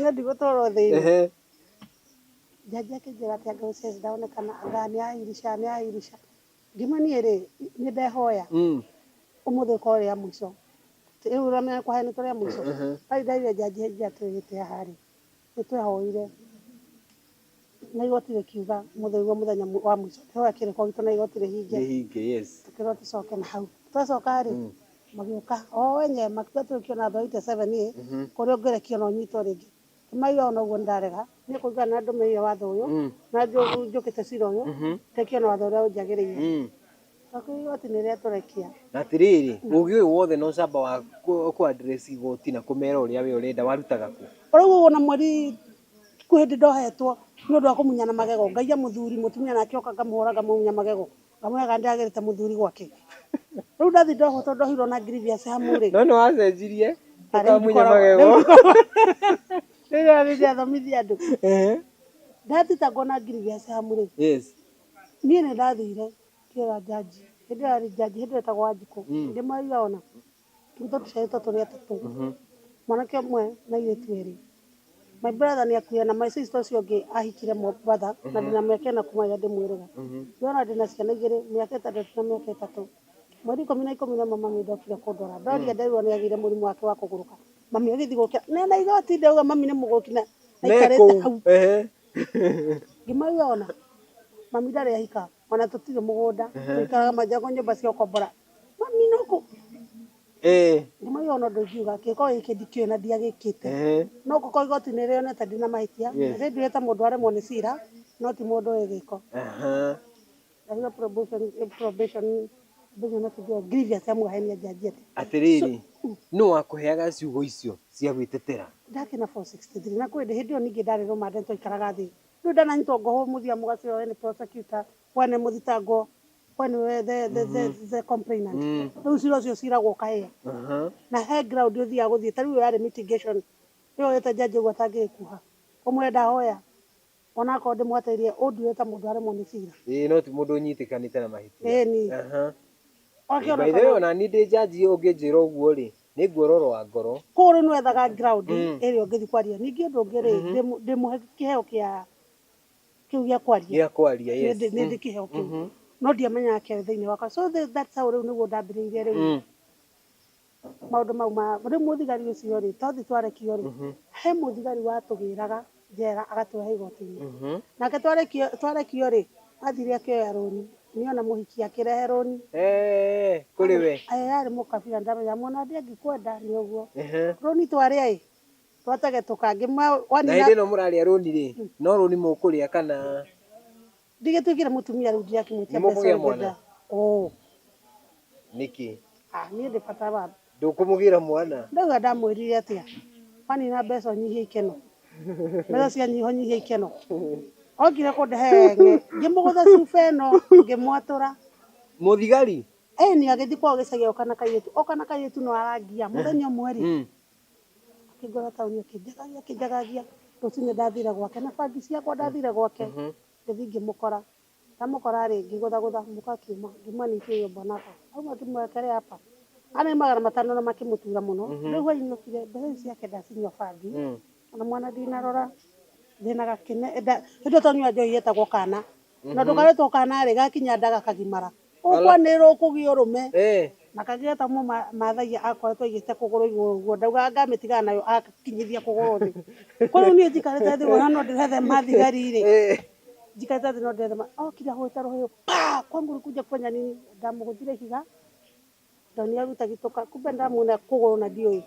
S1: Niĩ ndigũtwarwo thĩinĩ. Ehe. Jaji akĩnjĩra atĩ anga ũcio ndaonekana anga nĩ Airisha nĩ Airisha. Ngiuma niĩ rĩ, nĩ ndehoya Mm. ũmũthĩ ũkorwo rĩa mũico. Rĩu ũramenya kũheanĩtwo rĩa mũico. Ndathiĩ nderire jaji hĩndĩ ĩrĩa twĩhĩte haha rĩ, nĩ twehoire. Na igoti rĩkiuga, mũthĩgwo mũthenya wa mũico, kĩhoya kĩrĩ kwa gitũ na igoti rĩhinge. Rĩhinge, yes. Tũkĩrwo tũcoke na hau. Twacoka rĩ, magĩũka o enyewe makĩuga tũrĩ kĩona andũ a 87 ĩ, kũrĩ ũngĩrĩ kĩona ũnyitwo rĩngĩ. Ngĩmauria ona ũguo nĩndarega, niĩ kũringana na ũrĩa ndũmĩrĩire watho ũyũ, na njũkĩte cira ũyũ, itekĩona watho ũrĩa ũnjagĩrĩire. Twakĩrwo igoti nĩrĩatũrekia. Na atĩrĩrĩ, ũgĩ ũyũ wothe na ũcamba wa kũ address igoti na kũmera ũrĩa we ũrenda warutaga kũ? Ũrauga ũguo na mweri Kwi hindi ndohetwo ni undu wa kumunyana magego, ngaiya muthuri mutumia nake oka ngamuhura ngamunya magego, ngamwiraga ndiagirite muthuri gwake. Riu ndathii ndohwo tondu ndohirwo na grievous hamu ri. No niwacenjirie Na riu ukamunya ndikoragwo- magego. riu ndikoragwo- riu ndathii ndiathomithia andu. Ehe. Ndathitangwo na grievous hamu ri, Yes. nie nindathire ngiira jaji, hindi iyo yari jaji, hindi iyo etagwo Wanjiku, ndimwariga ona. Twitũ tũciarĩtwo tũrĩ atatũ, mwanake ũmwe na airĩtu erĩ. My brother nĩ akuire na my sister ũcio ũngĩ ahikire mũrũ wa brother na ndĩna mĩaka ĩna kuma rĩrĩa ndĩmwĩrĩga. Ndĩrona ndĩna ciana igĩrĩ, mĩaka ĩtandatũ na mĩaka ĩtatũ. Mweri ikũmi na ikũmi na ĩmwe mami ndokire kũndora, ndoria nderirwo nĩ agĩire mũrimũ wake wa kũgũrũka. Mami agĩthiĩ gũkĩra, nena igoti ndauga mami nĩ mũgũrũki na aikarĩte hau. Ngĩmauria ona, mami ndarĩ ahika. Ona tũtirĩ mũgũnda tũikaraga manjago nyũmba cia ũkombora mami no kũ Eh, ndimari ona ũndũ ingiuga kĩko gĩkĩ ndikĩũĩ na ndiagĩkĩte eh. no ngũkorwo igoti nĩ rĩonete ndĩ na mahĩtia Yes. nĩ nduĩte mũndũ aremwo nĩ cira no ti mũndũ ũĩ gĩko Aha. ndahiro probation probation probation na kĩndũ grievous ya mwahenia njanji atĩ Atĩrĩrĩ, nũ wakũheaga ciugo icio cia gwĩtetera? ndakĩna 463 na kwĩndĩ hĩndĩ ĩyo ningĩ ndarĩ rũmande twaikaraga thĩ Riu ndananyitwo ngohwo muthia mugacio we ni prosecutor we ni muthitangwo we ni we the the the, the complainant riu cira ucio ciragwo kae Aha. na he ground uthiaga guthie ta riu yari mitigation yo wete njanjo gu atangikuha umwire ndahoya ona akorwo ndimwateirie unduire ta mundu aremwo ni cira Ĩĩ no ti mũndũ ũnyitĩkanĩte na mahĩtia. Ĩni. Aha. By the way, ona niĩ ndĩ njanji ũngĩnjĩra ũguo rĩ, nĩ guoro rwa ngoro. Kũguo rĩu nĩ wethaga ground ĩrĩa ũngĩthiĩ kwaria. Ningĩ ũndũ ũngĩ rĩ, ndĩmũhe kĩheo kĩa kĩu gĩa kwaria. Gĩa kwaria, yes. Nĩ ndĩ kĩheo kĩu. No ndiamenyaga kĩarĩ thĩinĩ wakwa. So that's how rĩu nĩguo ndambĩrĩirie rĩu maũndũ mau ma, rĩu mũthigari ũcio rĩ, twathiĩ twarekio rĩ, he mũthigari watũgĩraga. njera agatũrehe igoti-inĩ nake twarĩkio twarekio rĩ athire akĩoya rũni nĩ ona mũhiki akĩrehe rũni Eh, kũrĩ we Aĩ, arĩ mũkabira ndamenya mwana ndĩ angĩkwenda nĩ ũguo Ehe. rũni twarĩa ĩ twategetũka ngĩmwa na hĩndĩ wanina ĩno mũrarĩa rũni rĩ no rũni mũkũrĩa kana Ndingĩtuĩkire mũtumia rĩu ndingĩakĩmwĩtia Nĩ mũkũgĩa mbeca mwana? ũrĩa Oo, nĩkĩ ah, niĩ ndĩ bata wa ndũkũmũgĩra mwana ndauga ndamwĩrire atĩa wanina mbeca ũnyihie ikeno mbeca cianyiha ũnyihie ikeno okire kũndehe ng'e ngĩmũgũtha cuba ĩno ngĩmwatũra mũthigari ĩni agĩthiĩ kwao gĩcagi oka na kairĩtu oka na kairĩtu no arangia mũthenya ũmwe rĩ Mm. akĩngora taũni akĩnjagagia akĩnjagagia rũcinĩ ndathire gwake na bangi ciakwa ndathire gwake ngĩthiĩ ngĩmũkora ndamũkora rĩ ngĩgũthagũtha mũka akiuma ngiuma ningĩ ũyũ mwanaka auma akĩmuoya kerĩ apa ana nĩ magana matano na makĩmũtura mũno rĩu hwainĩ okire mbeca icio ciake ndacinyua bangi ona mwana ndinarora thĩnaga kĩne nda hĩndĩ ĩyo tonyua njohi yetagwo kana na ndũkarĩtwo kana rĩ gakinya nda gakagimara Ũkwanĩrĩrwo kũgĩa ũrũme. Na kagĩe ta ũmwe mathagia akoretwo aigĩte kũgũrũ igũrũ ũguo, ndauga anga amĩtigaga nayo akinyithia kũgũrũ thĩ. Kwa rĩu niĩ njikarĩte thĩ ngũona no ndĩrethema thigari rĩ, njikarĩte thĩ no ndĩrethema. Okire ahũrĩte rũhĩ ũũ paa! Kwangu ulikuja kufanya nini? Ndamũgũthire ihiga ndonire rĩu itagitũka kumbe ndĩramuonia kũgũrũ na ndiũĩ.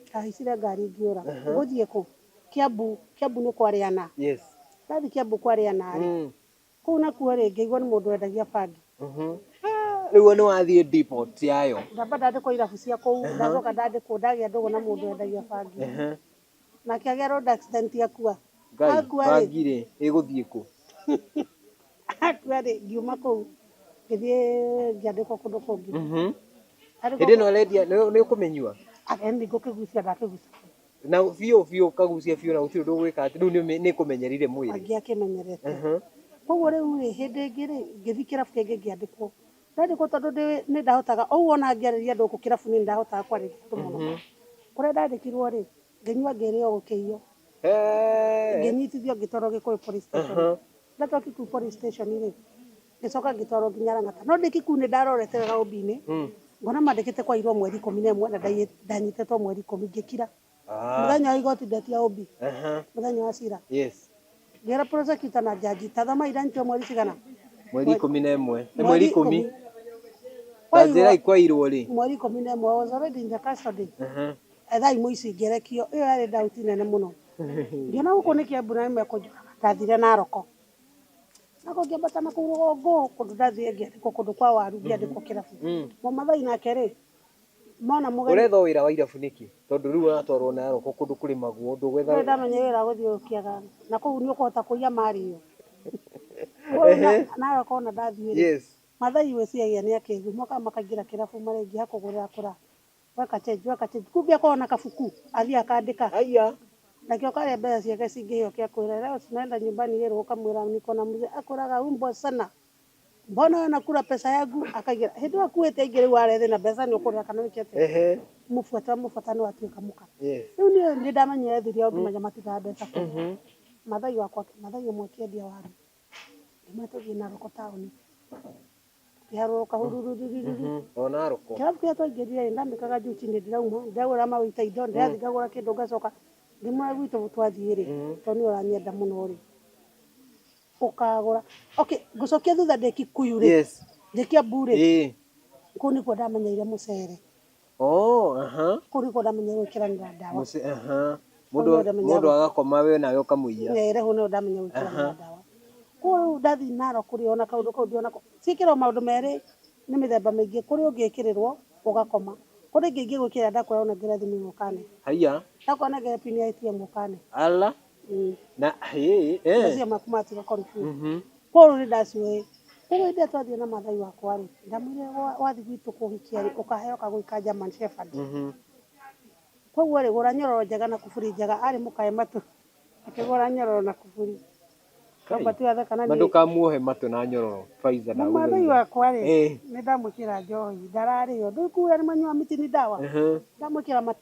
S1: Ndahaicire ngari ngĩũra. Ngũthiĩ kũ? Kiambu, Kiambu nĩ kwa Rĩana. Ndathiĩ Kiambu kwa Rĩana rĩ, Kũu nakuo rĩ ngĩigua nĩ mũndũ wendagia bangi. Nĩguo nĩ wathiĩ depot yayo. Ndamba ndandĩkwo irabu cia kũu, ndacoka ndandĩkwo ndagĩa ndũgũ na mũndũ wendagia bangi. Nake agĩa road accident akua. Ngai, Akua rĩ, bangi rĩ ĩgũthiĩ kũ? akua rĩ ngiuma kũu ngĩthiĩ ngĩandĩkwo kũndũ kũngĩ. Hĩndĩ ĩno ũrendia nĩ ũkũmĩnyua? Ageni ngũkĩgucia ndakĩgucia. na biũ biũ ũkagucia biũ na gũtirĩ ũndũ ũgwĩka atĩ rĩu nĩ- nĩ kũmenyerire mwĩrĩ angĩakĩmenyerete Mhm. koguo rĩu rĩ hĩndĩ ĩngĩ rĩ ngĩthiĩ kĩrabu kĩngĩ ngĩandĩkwo ndandĩkwo tondũ ndĩ- nĩ ndahotaga o ũguo ona ngĩarĩria andũ gũkũ kĩrabu nĩ ndahotaga kwarĩria andũ mũno Mhm. kũrĩa ndandĩkirwo rĩ ngĩnyua ngĩrĩo gũkĩiywo Eh. ngĩnyitithio ngĩtwarwo gĩkũyũ police station Aha. ndatwaki kuu police station rĩ ngĩcoka ngĩtwarwo nginya Lang'ata no ndĩki kuu nĩ ndarorete wega ũmbi-inĩ ngona mandĩkĩte kwairwo mweri ikũmi na ĩmwe na ndaiyĩ- ndanyitetwo mweri ikũmi ngĩkira mũthenya wa igoti ndeti ya ũmbi Aha. mũthenya wa cira Yes. ngĩra prosecutor na jaji tathama iranyitirwo mweri cigana Mweri ikũmi na ĩmwe. Nĩ mweri ikũmi. Kwa njĩra Kwairwo- ikwairwo rĩ. mweri ikũmi na ĩmwe was already in the custody Aha. etha imũ ici ngerekio ĩyo yarĩ ndauti nene mũno ngĩona gũkũ nĩ kĩambu na nĩmekũnjũraga ndathire na roko nako ngĩambata na kũu rũgongo kũndũ ndathiĩ ngĩandĩkwo kũndũ kwa waru ngĩandĩkwo kĩrabu Mm. mũmathai nake rĩ mona mũgeni Ũretho wĩra wa irabu nĩkĩ? Tondũ rĩu ũratwarwo na aroko kũndũ kũrĩ maguo ũndũ gwetha ndũrĩ ndamenya wĩra wa gũthiũrũrũkiaga na kũu nĩ ũkũhota kũiya marĩ yo Ehe. nawe kona ndathiĩ rĩ Yes. mathai wĩciagia nĩ akĩgu moka makaingĩra kĩrabu marengi hakũgũrĩra kũra Gakachenjwo agachenjwo kumbe akoragwo na kabuku athiĩ akandĩka Haiya. nakĩo karĩa mbeca ciake cingĩheo kĩa kwĩra leo tunaenda nyumbani yerwo ũkamwĩra niko na mzee akwĩraga umbwa sana mbona wewe unakula pesa yangu akaigĩra hĩndĩ ĩyo akuĩte aingĩ rĩu are thĩna mbeca nĩ ũkũrĩra kana wĩke atĩa Ehe. mũbuate wamũbuata nĩ watuĩka mũka Yes. rĩu niĩ nĩ ndamenyire thiri yao nginya matigaga mbeca kũu mathai wakwa mathai ũmwe akĩendia waru ngĩmwĩra tũthiĩ na thoko taũni iharũrũka hurururururu ona rũkũ kĩrabu kĩrĩa twaingĩrire ndamĩkaga njuti nĩ ndĩrauma ndagũra maĩ ta indo ndĩrathiĩ ngagũra kĩndũ ngacoka ndĩmwe gwitũ twathiĩ rĩ tondũ nĩ ũranyenda mũno rĩ ũkagũra okay ngũcokia thutha ndĩ kikuyu rĩ Yes. ndĩ kĩambu rĩ Ĩĩ. kũu nĩkuo ndamenyeire mũcere Oh, aha. Kũrigwo ndamenya gwĩkĩranĩra ndawa. Mũce, aha. Mũndũ Ũyũ ndamenya- mũndũ agakoma we nawe ũkamũiya. Eh, Rehũ nayo ndamenya gwĩkĩranĩra ndawa. Kũguo rĩu ndathiĩ naro kũrĩ ona kaũndũ kau ndiona ko. Ciĩkĩragwo maũndũ merĩ nĩ mĩthemba mĩingĩ. Kũrĩ ũngĩkĩrĩrwo ũgakoma. Kũrĩ ĩngĩ ingĩgwĩkĩrĩra ndakwĩra ũnengere thimũ ĩno ũkanenga. Haiya. Ndakwĩra ũnengere pini ya ATM ũkanenga. Ala. Mm. na hĩ eh, Macio maku matiga confuse. mhm. Koguo nĩ ndaciũĩ. Koguo hĩndĩ ĩrĩa twathiĩ na mathai wakwa-rĩ, ndamwĩrire wa- wathiĩ gwitũ kũhikia-rĩ, ũkaheo kagũi ka German Shepherd. Mhm. Koguo-rĩ, gũra nyororo njega na kuburi njega. Arĩ mũkae matũ. Akĩgũra nyororo na kuburi. Kamba tu atheka na na niĩ. ndũkamuohe matũ na nyororo faiza Na mathai ndagũthaitha wakwa-rĩ, Eh. nĩ ndamwĩkĩra njohi. Ndararĩo. Ndũĩ kuga nĩ manyua miti ni ndawa. Ehe. Ndamwĩkĩra matũ.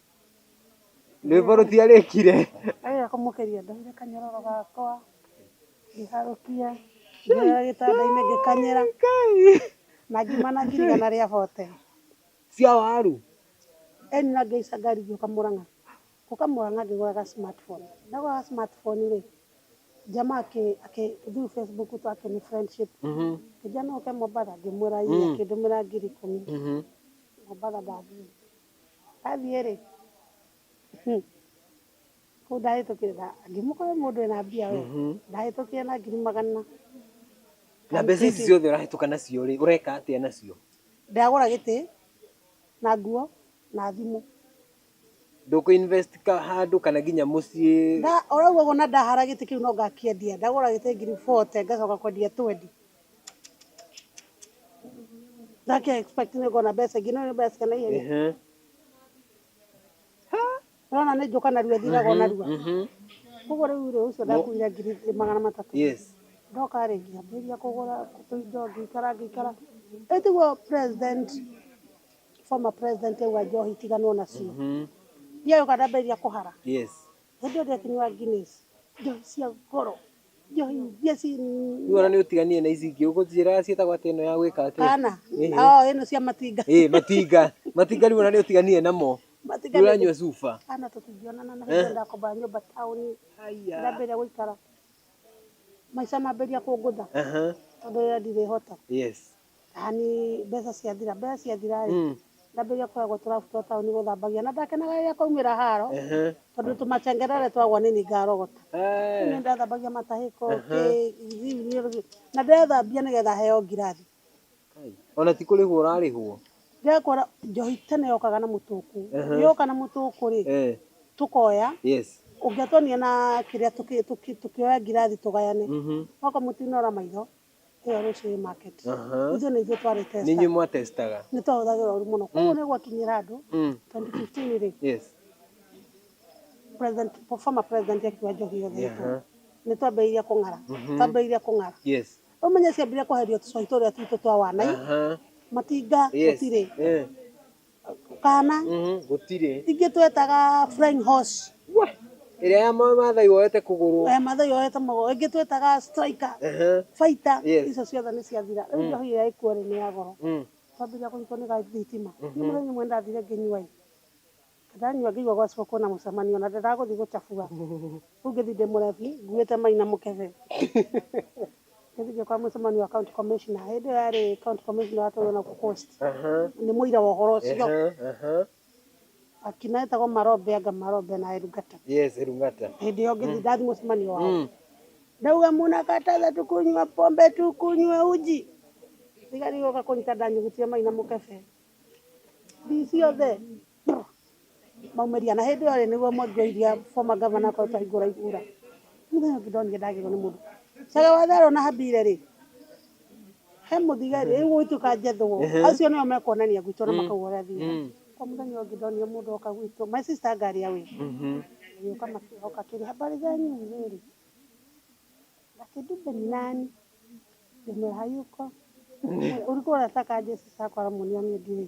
S1: Rwĩmbo rũtiarĩkire. Agĩũka kũmũkeria ndoire kanyororo gakwa ngĩharũkia ngĩoya gĩtanda-inĩ ngĩkanyĩra na ngiuma na ngirigana rĩa bote Cia waru. ĩni na ngĩhaica ngari ngĩũka Mũrang'a. Gũka Mũrang'a ngĩgũra ga smart phone. Ndagũra ga smart phone rĩ, jamaa akĩ akĩ through Facebook tu akĩni friendship. Akĩnjia no ũke Mombatha ngĩmwĩra ii akĩndũmĩra ngiri ikũmi. Mombatha ndathiĩ. Athiĩ-rĩ, hmm, kũu ndahĩtũkire nda- angĩmũkora mũndũ ena mbia we, ndahĩtũkire na ngiri magana. Na mbeca ici ciothe ũrahĩtũka nacio-rĩ, ũreka atĩa nacio? Ndagũra gĩtĩ, na nguo, na thimũ. Ndũkũ invest ka handũ kana nginya mũciĩ? Nda- o rĩu ũguo na ndahara gĩtĩ kĩu no ngakĩendia. Ndagũra gĩtĩ ngiri forte, ngacoka kwendia twendi. Ndake expect nĩ ngona mbeca ingĩ no nĩ mbeca kana ihenya. Ehe. Ũrona nĩ njũka narua thiraga o narua. Mhm. Koguo rĩu rĩ ũcio ndakuire ngiri ĩ- magana matatũ. Yes. Ndoka rĩ ngĩambĩrĩria kũgũra tũindo ngĩikara ngĩikara. Ĩ tiguo president former president auga njohi tiganwo nacio. Mhm. Ndiagĩũka ndambĩrĩria kũhara. Yes. Hĩndĩ ĩyo ndekĩnyua Guinness, njohi cia goro, njohi iria ci Rĩu ona nĩ ũtiganire na ici ingĩ ũgũtwĩra ciĩtagwo atĩa ĩno ya gwĩka atĩa kana Ĩhĩ. oo ĩno cia matinga ĩĩ matinga matinga rĩu ona nĩ ũtiganire namo matinga nĩ- ũranyua cuba kana tũtingĩonana na hĩndĩ ĩyo ndakombaga nyũmba taũni ndambĩrĩria gũikara maica mambĩrĩria kũngũtha Aha, tondũ rĩrĩa ndirĩhota yes Hani mbeca ciathira mbeca ciathira rĩ Mm. ndambĩrĩria kũragwo tũrabu twa taũni gũthambagia na ndakenaga rĩrĩa kwaumĩra haro Ehe. tondũ tũmacengerere twagwa nĩ ngarogota Eh. nĩ ndathambagia matahĩko kĩ- thimu- na ndĩrathambia nĩgetha heo ngirathi Kai. Ona ti kũrĩhwo ũrarĩhwo. ndĩrakora njohi tene yokaga na mũtũkũ Ehe. yoka na mũtũkũ rĩ Eh. tũkoya Yes. ũngĩatonia na kĩrĩa tũkĩ- tũkĩ- tũkĩoya ngirathi tũgayane Mhm. wako mũtinora maitho ĩyo Rũcĩrĩ Market. Aha. Ithuĩ nĩ ithuĩ twarĩ testa. Nĩ inyuĩ mwatestaga. Nĩ twahũthagĩra ũru mũno. Koguo nĩ gwakinyĩra andũ 2015 rĩ, president, former president akiuga njohi yothe ĩtwo. Nĩ twambĩrĩirie kũng'ara. Twambĩrĩirie kũng'ara. Rĩu ũmenye ciambire kweherio tũcohi tũrĩa twitũ twa wanai, matinga gũtirĩ. kana gũtirĩ ingĩ twetaga flying horse Wah! ĩrĩa ya ma- maathai woete kũgũrũ eh, mathai yoete mũgo ingĩ twetaga striker Ehe. fighter Yes. icio ciothe nĩ ciathira rĩu njohi ĩrĩa ĩkuo rĩ nĩ ya goro Mm. twambĩrĩria kũnyitwo nĩ gathitima nĩ mũthenya ũmwe ndathire ngĩnyua ĩ ndanyua ngĩigua gwa ciboko na mũcemanio na ndĩragũthiĩ gũcabua rĩu ngĩthiĩ ndĩ mũrebi nguĩte maina mũkebe Nĩ thinge kwa mũcemanio wa county commissioner. Hĩndĩ ĩyo yarĩ county commissioner atũrwo na kukost. Nĩ mũira wa ũhoro ũcio. Akina etagwo Marobe anga Marobe na Erungata. Yes, Erungata. Hĩndĩ ĩyo ngĩthi ndathi mũcemanio wao. Ndauga mũnakataza tukunywa pombe tukunywe uji. Thigari igoka kũnyita ndanyugutire mai na mũkebe. DC othe. maumeria na hĩndĩ ĩyo rĩ nĩguo mwangi oiria former governor akorwo twahingũra ihura mũthenya ũngĩ ndonire ndagĩrwo nĩ mũndũ caga wa therũ na habire rĩ he mũthigari rĩu gũgĩtuĩka njethwo acio nĩo mekuonania gwitũ na makauga ũrĩa thiaga kwa mũthenya ũngĩ ndonire mũndũ oka gwitũ my sister ngari ya wĩra gĩũka makĩhoka kĩrĩ habari zenyu rĩrĩ lakini mbe ni nani ndĩmwe hayuko ulikuwa unataka aje sasa kwa ramuniani ndiye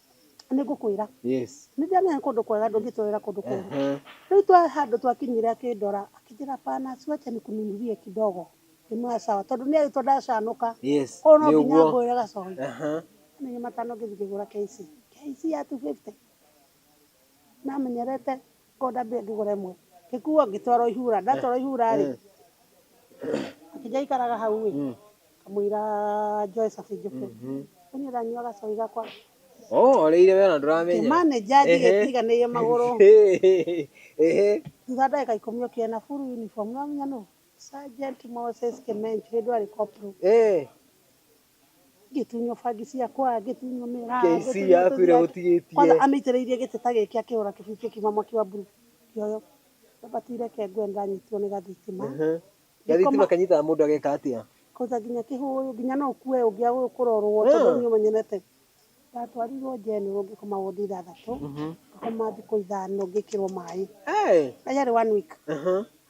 S1: nĩ ngũkwĩra Yes. nĩ ndĩramenya nĩ kũndũ kwega ndũngĩtwarĩra kũndũ kũru Ehe. rĩu twa handũ twakinyire akĩndora akĩnjĩra pana siwache nikununulie kidogo nĩmwaya sawa tondũ nĩ agĩtwo ndacanũka Yes. koguo no Nĩ nginya ũguo. ngũrĩre gacohi Aha. nĩ matano ngĩthiĩ ngĩgũra KC KC ya 250 namenyerete Ngĩkonda mbia ngĩgũra ĩmwe, ngĩkuo ngĩtwarwo ihura, ndatwarwo ihura rĩ, akĩnjĩra ikaraga hau ĩ, ngamwĩra njoe cabi njũke, rĩu niĩ ndanyua gacohi gakwa, Ũhoreire we ona ndũramenya. ngĩmanĩnja njige njiganĩirie magũrũ, thutha wa ndagĩka ikũmi okire na full uniform, nĩwamenya nũ? Sergeant Moses Kĩmenjirĩ ndwarĩ corporal. ngĩtunywo bangi ciakwa ngĩtunywo mĩraa KC ngĩtunywo yaku tũthiaga- ĩrĩa ũtigĩtie. kwanza amĩitĩrĩirie gĩtĩ ta gĩkĩ akĩhũra kĩbui kĩkiuma mwaki wa mburu kĩoyo nabati reke ngwe ndanyitirwo nĩ gathitima gathitima kanyitaga mũndũ ageka atĩa kwanza nginya kĩhũyũ nginya no ũkue ũngĩa ũyũ kũrorwo Ah. tondũ niĩ ũmenyenete ndatwarirwo njenũrũ ngĩkoma wondi ithathatũ ngĩkoma thikũ ithano ngĩkĩrwo maĩ Hey! na yarĩ one week Aha.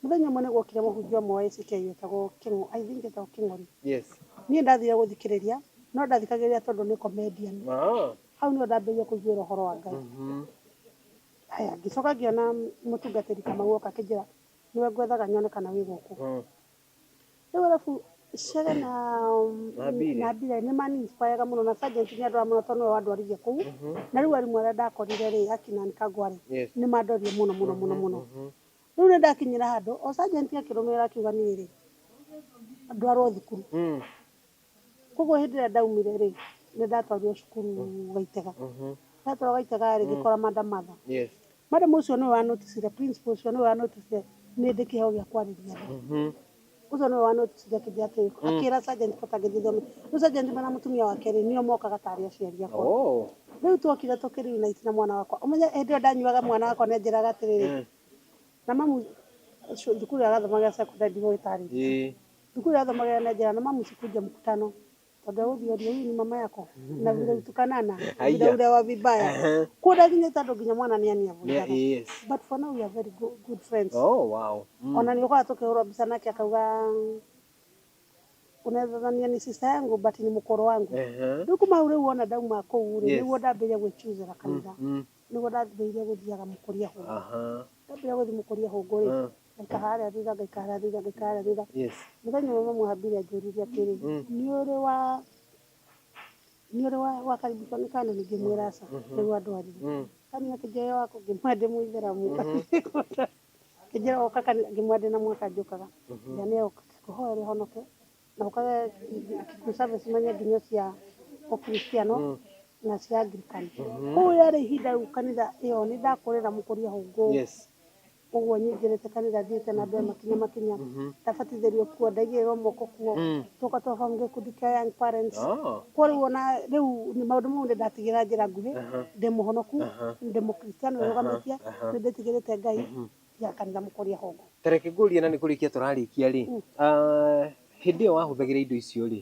S1: Mũthenya ũmwe nĩ gwokire mũhunjia ũmwe wa ACK wetagwo Kĩng'o, I think etagwo Kĩng'ori. Yes. Niĩ ndathire gũthikĩrĩria, no ndathikagĩrĩria tondũ nĩ comedian. Ah. Hau nĩho ndambĩrĩirie kũiguĩra ũhoro wa Ngai. Mhm. Haya, ngĩcoka ngĩona mũtungatĩri Kamau oka akĩnjĩra, nĩwe ngwethaga nyone kana wĩ gũkũ. Mm. rĩu arabu cere na Na Billy. na bila nĩ maninspiraga mũno na sergeant nĩ andora mũno tondũ nĩwe wandwarithia kũu na rĩu arimũ arĩa ndakorire rĩ akina Ann kangwa rĩ Yes. nĩ mandorire mũno mũno mũno mũno rĩu nĩ ndakinyĩra handũ o sergeant akĩrũmĩrĩra akiuga niĩ rĩ ndwarwo thukuru Mm. Koguo hĩndĩ ĩrĩa ndaumire-rĩ, nĩndatwarirwo cukuru Gaitega. Ndatwarwo Gaitega-rĩ, ngĩkora Madam Martha. Madam ũcio nĩwe wa noticire, principal ũcio nĩwe wa noticire nĩndĩ kĩheo gĩa kwarĩria andũ. Ũcio nĩwe wa noticire akĩnjĩra atĩrĩ, akĩra Sergeant Potter ngĩthiĩ thome. Rĩu Sergeant Potter na mũtumia wake-rĩ, nĩo mokaga ta arĩ aciari akwa. Rĩu twokire tũkĩ reunite na mwana wakwa. Ũmenye hĩndĩ ĩyo ndanyuaga mwana wakwa nĩanjĩraga atĩrĩrĩ, na mamu, cukuru ĩrĩa arathomagĩra secondary ndigũgĩtarĩria. Thukuru ya Thoma Gĩa na Njĩra na Mamu Sikunja Mkutano tondũ ya gũthiĩ ũthiũ hii ni mama yako na vile utukanana vile ule wa vibaya kuda nginya tondũ nginya mwana ni ania vunjana yes. but for now we are very good, good friends oh, wow. mm. ona ni ukawa tukihurwa mbica nake akauga unethania ni sister yangu but ni mukoro wangu uh -huh. riu kuma u riu wona ndauma kuu ri yes. niguo ndambiria gwichuzira kanitha mm, mm. niguo ndambiria guthiaga mukuria hu uh -huh. ndambiria guthi mukuria hu nguri uh -huh ngaikara harĩa thutha ngaikara harĩa thutha ngaikara harĩa thutha yes mũthenya ũmwe mamu ambire anjũririe atĩrĩ Mm. nĩ ũrĩ wa nĩ ũrĩ wa wakaribishwo nĩ kana ningĩ mwĩra aca nĩguo andũ arĩ mm. kani akĩnjoya wako ngĩmwa ndĩ mũithĩramu kĩnjĩra oka kani ngĩmwa ndĩ na mwaka njũkaga na nĩ oka kũhoya rĩ honoke na ũkaga kĩkuũ service manya nginya cia ũkristiano na cia angirikani kũu yarĩ ihinda rĩu kanitha ĩyo nĩ ndakũrĩra mũkũria hũngũ yes Ũguo nyingĩrĩte kanitha thiĩte na andũ aya makinya makinya. Ndabatithĩrio kuo, ndaigĩrĩrwo moko kuo. Tũgoka twa form gĩkundi kĩa young parents. Kuo rĩu ona rĩu maũndũ mau nĩ ndatigĩra njĩra nguhĩ. Ndĩ mũhonoku, ndĩ mũkristiano wĩrũgamĩtie, nĩ ndĩtigĩrĩte Ngai, tiga kanitha mũkũria hongo. Ta reke ngũrie na nĩ kũrĩkia tũrarĩkia rĩ, hĩndĩ ĩyo wahũthagĩra indo icio rĩ,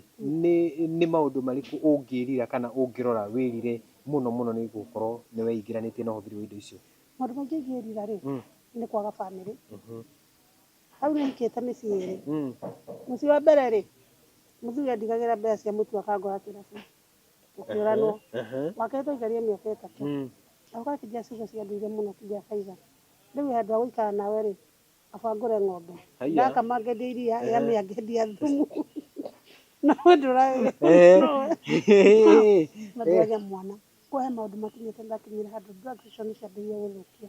S1: nĩ maũndũ marĩkũ ũngĩrira kana ũngĩrora wĩrire mũno mũno nĩ gũkorwo nĩ weingĩranĩtie na ũhũthĩri wa indo icio? Maũndũ maingĩ ingĩĩrira rĩ, nĩ kwaga bamĩrĩ. Hau nĩ ndikĩte mĩciĩ ĩĩrĩ. Mũciĩ wa mbere rĩ, mũthuri andigagĩra mbeca cia mũtu akangũra kĩrabu, tũkĩũranwo. Wa kerĩ twaikarire mĩaka ĩtatũ, na ũgakora ti Jesu ũcio ciandũire mũno ti Jesu either. Rĩu handũ ha gũikara nawe rĩ, kaba ngũre ng'ombe. Ndakama ngendie iria, yamĩa ngendia thumu. Na we ndũrarĩ na mwana. Kwa he maũndũ makinyĩte ndakinyĩra handũ distraction ciambĩrĩirie gũthũkia.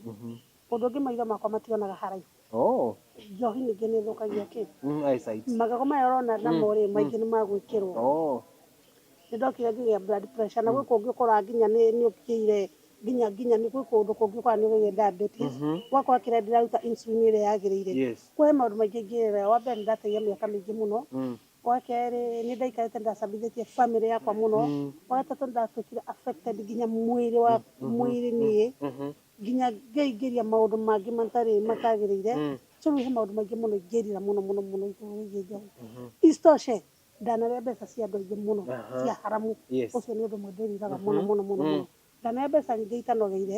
S1: Ũndũ ũngĩ maitho makwa mationaga haraihu. Oh. Njohi ningĩ nĩ ĩthũkagia kĩ? Mm, eyesight. Magego maya ũrona namo rĩ, maingĩ nĩ magwĩkĩrwo. Oh. Nĩ ndokire ngĩgĩa blood pressure na gwĩ kũngĩ ũkoraga nginya nĩ nĩ ũkinyĩire nginya nginya nĩ gwĩ kũndũ kũngĩ ũkoraga nĩ ũgeire diabetes. Ũgakora kĩrĩa ndĩraruta insulin ĩrĩa yagĩrĩire. Yes. Kwa he maũndũ maingĩ ingĩrĩra. Wa mbere nĩ ndateire mĩaka mĩingĩ mũno Wa kerĩ, nĩ ndaikarĩte ndacambithĩtie family yakwa mũno. Wa gatatũ, nĩ ndatuĩkire affected nginya mwĩrĩ wa mwĩrĩ niĩ, nginya ngeingĩria maũndũ mangĩ matarĩ matagĩrĩire. So rĩu he maũndũ maingĩ mũno ingĩrira mũno mũno mũno igũrũ wĩgiĩ njohi. Isitoshe, ndanarĩa mbeca cia andũ aingĩ mũno cia haramu. Ũcio nĩ ũndũ ũmwe ndĩriraga mũno mũno mũno mũno. Ndanarĩa mbeca nyingĩ itanogeire.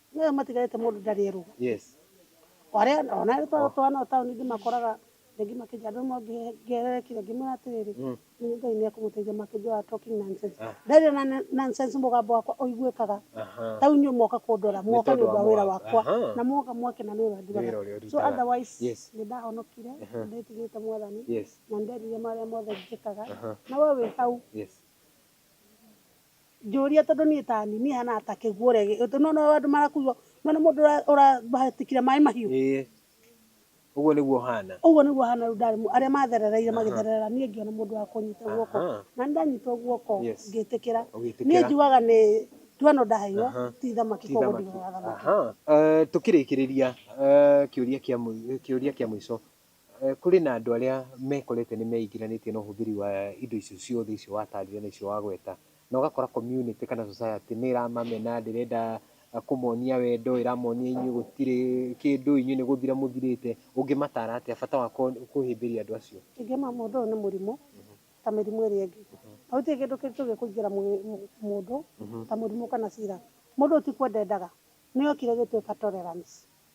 S1: Nĩwe matigarĩte mũndũ ndarĩ erũgũ. Yes. Warĩa ona arĩ twa twana o taũni ndĩmakoraga rĩngĩ makĩnjia andũ amwe ngĩererekire ngĩmwĩra atĩrĩrĩ Mm. nĩ Ngai nĩ ekũmũteithia makĩnjia wa talking nonsense. Ah. Ndarĩ na na- nonsense mũgambo wakwa ũiguĩkaga Aha. ta inyuĩ moka kũndora Nĩ moka nĩ tondũ ũndũ wa wa wĩra mũgambo. wakwa Aha. na moka mwakena nĩ wĩra Nĩ nduraga wĩra ũrĩa so ũrutaga. otherwise Yes. nĩ ndahonokire Aha. nĩ ndĩtigĩrĩte mwathani Yes. na nĩ nderire marĩa mothe njĩkaga Aha. na we wĩ hau Yes. Njũria tondũ niĩ ta niĩ niĩ hana ta kĩguũ ũregi tondũ nĩ wona ũrĩa andũ marakuo nĩ wona mũndũ ũrahatĩkire maĩ mahiũ Ĩĩ. Ũguo nĩguo ũhana. ũguo nĩguo hana rĩu ndarĩ arĩa matherereire magĩthererera niĩ ngĩona mũndũ wa kũnyita guoko Aha. na nĩ ndanyitwo guoko Yes. ngĩtĩkĩra niĩ Ũgĩtĩkĩra. njugaga nĩ nduano ndaheirwo Aha. ti thamaki Ti koguo thamaki. ndigaga thamaki Aha. Eh, Tũkĩrĩkĩrĩria eh, kĩũria kĩa mũi- kĩũria kĩa mũico. Kũrĩ na andũ arĩa mekorete nĩ meingĩranĩtie na ũhũthĩri wa indo icio ciothe icio watarire na icio wagweta, na ũgakora community kana society nĩ ĩramamena, ndĩrenda kũmonia wendo, ĩramonia inyuĩ gũtirĩ kĩndũ, inyuĩ nĩ gũthira mũthirĩte, ũngĩmatara atĩa bata wa kũhĩmbĩria andũ acio? Ingĩmera mũndũ ũyũ nĩ mũrimũ ta mĩrimũ ĩrĩa ĩngĩ, na gũtirĩ kĩndũ kĩngĩũka kũingĩra mũndũ ta mũrimũ kana sira. Mũndũ ũyũ ti kwenda endaga, nĩ okire ĩgĩtuĩka tolerance.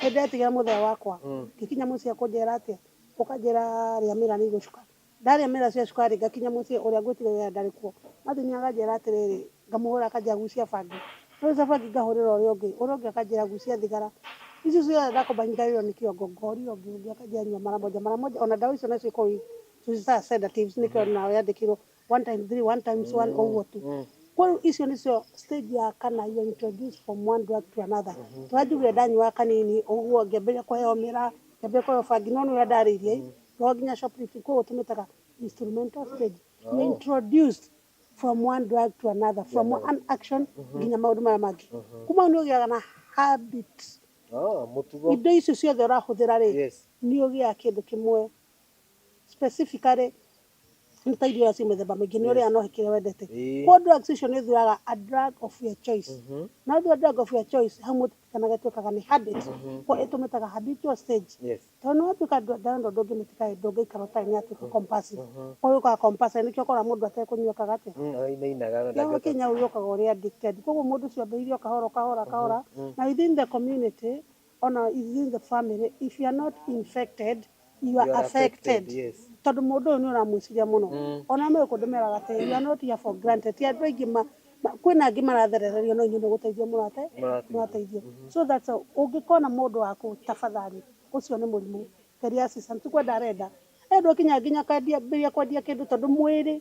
S1: Nĩ ndetigĩra mũthee wakwa, ngĩkinya mũciĩ ekũnjĩra atĩa? Ũkanjĩra rĩamĩra nĩ igũcuka. Ndarĩa mĩra ciacuka-rĩ, ngakinya mũciĩ ũrĩa ngwĩtigagĩra ndarĩ kuo. Martin akanjĩra atĩrĩrĩ, ngamũhũra akanjĩra gucia bangi. Nagucia bangi ngahũrĩra ũrĩa ũngĩ, ũrĩa ũngĩ akanjĩra gucia thigara. Icio ciothe ndakomba nyitagĩrĩrwo nĩ kĩongo, ngorĩra ũngĩ, ũngĩ akanjĩra nyua mara moja mara moja. Ona ndawa icio nacio ikoragwo ii, tũciĩtaga sedatives nĩkĩo nayo yandĩkĩirwo one time three one times one ũguo tu kwa rĩu icio nĩcio stage ya kana you introduce from one drug to another tũranjugire ndanyuaga kanini ũguo ngĩambĩrĩria kũheo mĩra ngĩambĩrĩria kũheo bangi no nĩ ũrĩa ndarĩirie i no nginya shoplifting koguo tũmĩtaga instrumental stage you introduced from one drug to another from one action nginya maũndũ maya mangĩ kuma hau nĩ ũgĩaga na habit Ah, mũtugo indo icio ciothe ũrahũthĩra rĩ yes nĩ ũgĩaga kĩndũ kĩmwe specifically nĩ ta irio cia mĩthemba mĩingĩ nĩ ũrĩa no kĩrĩa wendete Ĩĩ. kwa drugs icio nĩ ũthuaga a drug of your choice Mhm. na ũthua drug of your choice hau mũtikanaga ĩtuĩkaga nĩ habit kwa ĩtũmĩtaga habitual stage Yes. tondũ nĩ watuĩka ndando ndũngĩmĩtika ĩ, ndũngĩikara ũtarĩ nĩ yatuĩka compulsive kwa hiyo ũkaga compulsive nĩkĩo ũkora mũndũ atekũnyua kaga atĩa Mm, oh, inainaga no Yaani ndangĩhota- Kenya ũyũ ũkaga ũrĩ addicted koguo mũndũ ũcio ambĩrĩirie o kahora o kahora o kahora na within the community Ona within the family if you are not infected you are affected tondũ mũndũ ũyũ nĩ ũramwĩciria mũno ona me kũndũ meraga atĩ you are not here for granted ti andũ aingĩ ma ma- kwĩna angĩ maratherererio no inyuĩ nĩ gũteithio mũrate mũrateithio so that's all ũngĩkona mũndũ waku tafadhali ũcio nĩ mũrimũ geria assistance ti kwenda arenda endwo kinya nginya kwendia mbia kwendia kĩndũ tondũ mwĩrĩ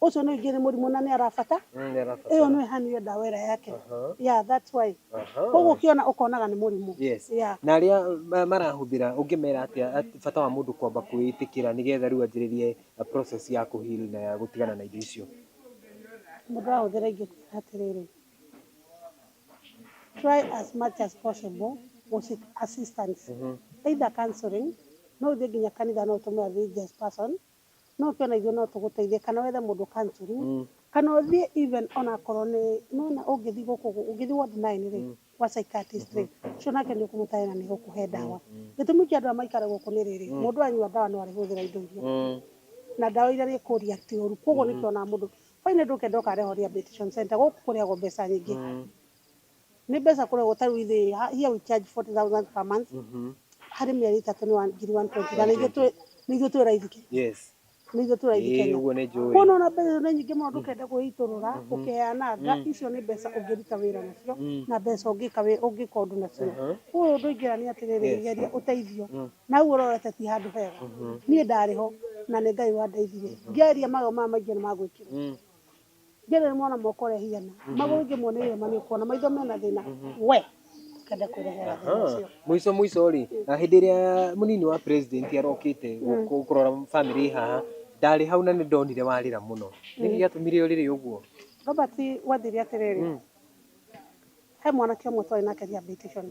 S1: Ũcio nĩ ingĩ nĩ mũrimũ na nĩ arabata. Mm, nĩarabata. Ĩyo nĩ hanu ĩyo ndawa ĩrĩa yake. Aha. Yeah, that's why. Aha. Koguo ũkĩona ũkonaga nĩ mũrimũ. Yes. Yeah. Na arĩa ma- marahũthĩra ũngĩmera atĩa at- bata wa mũndũ kwamba kwĩĩtĩkĩra nĩgetha rĩu anjĩrĩrie uh, process ya kũhili na ya gũtigana na indo icio. Mũndũ arahũthĩra ingĩkwĩra atĩrĩrĩ. Try as much as possible gũseek assistance. Mhm. Either counseling, no ũthiĩ nginya kanitha no ũtũme a religious person No ũkĩona ithuĩ no tũgũteithie kana wethe mũndũ counselling Mm. kana ũthiĩ even ona akorwo nĩ nĩwona ũngĩthiĩ gũkũ gũ- ũngĩthiĩ ward nine rĩ gwa psychiatrist rĩ ũcio nake nĩ ũkũmũtarĩra na nĩ egũkũhe ndawa gĩtũmi kĩa andũ aya maikare gũkũ nĩ rĩrĩ mũndũ anyua ndawa no arĩhũthĩra indo iria Mm. na ndawa iria rĩkũria ti ũru koguo nĩkĩo ona mũndũ bainĩ ndũkenda ũkareho rehabilitation center gũkũ kũrĩagwo mbeca nyingĩ Nĩ mbeca kũrĩhwo ta rĩu ithuĩ ha- here we charge 40,000 per month harĩ mĩeri ĩtatũ nĩ wa- ngiri 120 na nĩ ithuĩ twĩ- nĩ ithuĩ twĩ raithi Kenya. Yes. Nĩ ithuĩ twĩ raithi Ĩĩ, Kenya. ũguo nĩ njũĩ. Kuona ona mbeca icio nĩ nyingĩ mũno ndũkenda kwĩitũrũra ũkĩheananga icio nĩ mbeca ũngĩruta wĩra nacio na mbeca ũngĩka wĩ- ũngĩka ũndũ nacio ũyũ ũndũ ingĩra nĩ atĩrĩrĩ geria ũteithio na hau ũrorete ti handũ hega niĩ ndarĩ ho na nĩ ngai wandeithirie ngeria magego maya maingĩ nĩ magwĩkĩrwo Ngerere mwana moko ũrĩa hiana magũrũ ingĩ mone irema nĩ ũkuona maitho mena thĩna we ndũkende kwĩrehera thĩna Aha. ũcio. Mũico mũico rĩ, na hĩndĩ ĩrĩa mũnini wa president arokĩte gũ- gũ- kũrora family ĩ haha, ndarĩ hau na nĩ ndonire warĩra mũno. Nĩkĩ gĩatũmire ũrĩre ũguo? Robert wathire atĩrĩrĩ He mwanake ũmwe twarĩ nake rehabilitation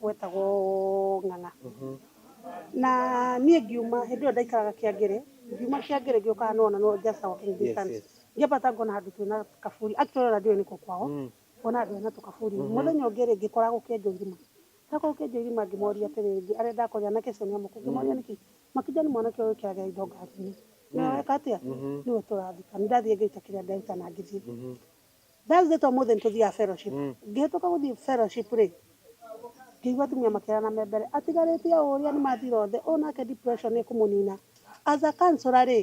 S1: wetagwo Ng'ang'a. Na niĩ ngiuma, hĩndĩ ĩyo ndaikaraga Kĩangĩrĩ, ngiuma Kĩangĩrĩ ngĩũka haha nĩ wona no just a walking distance. Ngĩambata ngona handũ twĩna kaburi, actually ona ndiũĩ nĩkũ kwao, ngona andũ mena tũkaburi. Mũthenya ũngĩ rĩ, ngĩkora gũkĩenjwo irima. Ndokora gũkĩenjwo irima ngĩmoria atĩrĩ, arĩa ndakorire, anake acio nĩ amũkũ, ngĩmoria nĩkĩ? Makĩnjĩra nĩ mwanake ũyũ wĩkĩraga indo ngari-inĩ. Nĩwe weka atĩa? Nĩwe tũrathika. Nĩ ndathiire ngĩruta kĩrĩa nderuta na ngĩthiĩ. Thursday ta ũmũthĩ nĩtũthiaga fellowship. Ngĩhĩtũka gũthiĩ fellowship rĩ, ngĩigua atumia makĩrana me mbere, atigarĩtie ũũ ũrĩa nĩmathira othe, ũyũ nake depression nĩkũmũnina. As a counsellor rĩ,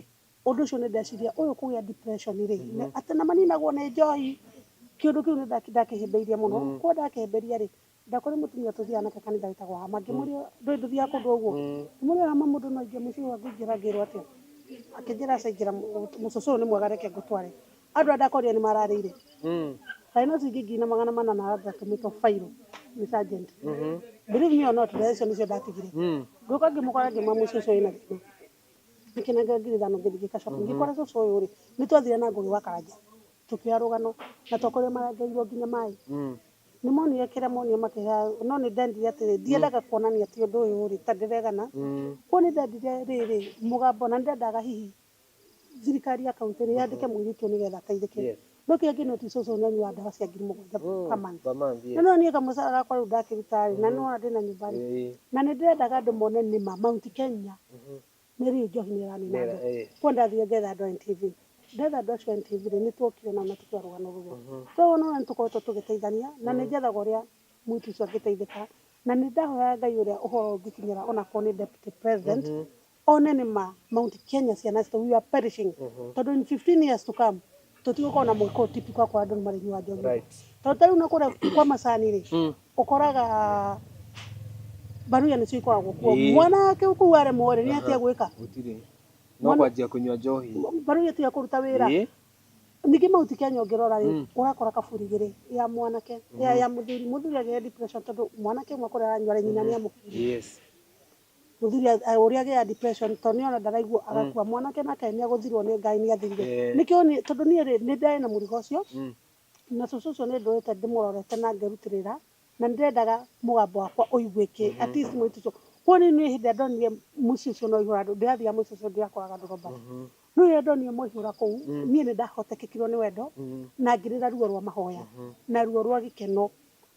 S1: ũndũ ũcio nĩndeciria ũyũ kũgĩa depression rĩ, atĩ nĩmaninagwo nĩ njohi, kĩũndũ kĩu nĩndakĩhĩmbĩirie mũno. Kuona ndakĩhĩmbĩria rĩ, ndakore mutumia tuthia anake kanitha witagwo hama ngimuri ndui nduthia kundu uguo ngimuri hama mundu no inge muci wa ngingira ngirwo atia akinjira acingira mucucu uyu ni mwega reke ngutware andu a ndakorire ni mararire thaino ici ingi ngiri na magana mana na aratumitwo fairo ni sergeant believe me or not thaa icio nicio ndatigire ngiuka ngimukora ngima muci ucio wina thina ngikinengera ngiri thano ngithi ngikacoka ngikora cucu uyu ri ni twathire na ngugi wa karanja tukioya rugano na twakorire marengeirwo nginya mai Nĩmonire kĩrĩa monire makĩhaya, no nĩndendire atĩrĩ, ndiendaga kuonania atĩ ũndũ ũyũ-rĩ, ta ndĩregana, kuona nĩndendire rĩrĩ, mũgambo, na nĩndendaga hihi thirikari ya kauntĩ nĩ yandĩke mũirĩtu ũyũ nĩgetha ateithĩke. No kĩrĩa ingĩ notice ũcio nĩ anyuaga ndawa cia ngiri mũgwanja per month. Na nĩwona niĩ kamũcara gakwa rĩu ndakĩruta-rĩ, na nĩwona ndĩna nyũmba-rĩ, na nĩndĩrendaga andũ mone nĩma Mount Kenya Mary Njohi nĩ ũranina andũ. Kuo ndathiĩ ngetha andũ a NTV. Ndetha andũ acio a NTV rĩ, nĩ twokire nao na tũkĩarũgana ũguo. Twarũgana ũguo nĩ tũkoretwo tũgĩteithania na nĩ njethaga ũrĩa mũirĩtu ũcio angĩteithĩka. Na nĩ ndahoyaga Ngai ũrĩa ũhoro ũngĩkinyĩra ona akorwo nĩ Deputy President, one nĩ ma Mount Kenya ciana citũ, we are perishing. Tondũ in fifteen years to come, tũtigũkorwo na mũiko ũyũ typical wa kũrĩa andũ nĩ marĩnyua njohi Right. tondũ ta rĩu na kũrĩa kwa macani rĩ Mm. ũkoraga mbaruya nĩcio ikoragwo kuo Ĩĩ. mwana wake kũu aremwo rĩ nĩ Aha. atia gwĩka Gũtirĩ. No Mwana- kwanjia kũnyua njohi. mbaruya tiga kũruta wĩra Ĩĩ. ningĩ mahuti kenya ũngĩrora rĩ Mm. ũrakora kaburi igĩrĩ ya mwanake ya ya mũthuri mũthuri agĩe depression tondũ mwanake ũmwe kũrĩa aranyua rĩ nyina nĩ amũkirie Yes. Mũthuri ũrĩa agĩaga depression tondũ nĩ ona ndaraigua agakua. Mwanake nake nĩ agũthirwo nĩ Ngai nĩ athirire. Nĩkĩo niĩ tondũ niĩ rĩ, nĩ ndarĩ na mũrigo ũcio, na cũcũ ũcio nĩ ndũrĩte ndĩmũrorete na ngerutĩrĩra, na nĩ ndendaga mũgambo wakwa ũiguĩke at least mũirĩtu ũcio. Kwoguo niĩ hĩndĩ ĩrĩa ndonire mũici ũcio na aihũra andũ, ndĩrathiaga mũici ũcio ndĩrakoraga ndũroba. No rĩrĩa ndonire mwaihũra kũu, niĩ nĩ ndahotekekirwo nĩ wendo, na ngĩrĩra ruo rwa mahoya, na ruo rwa gĩkeno,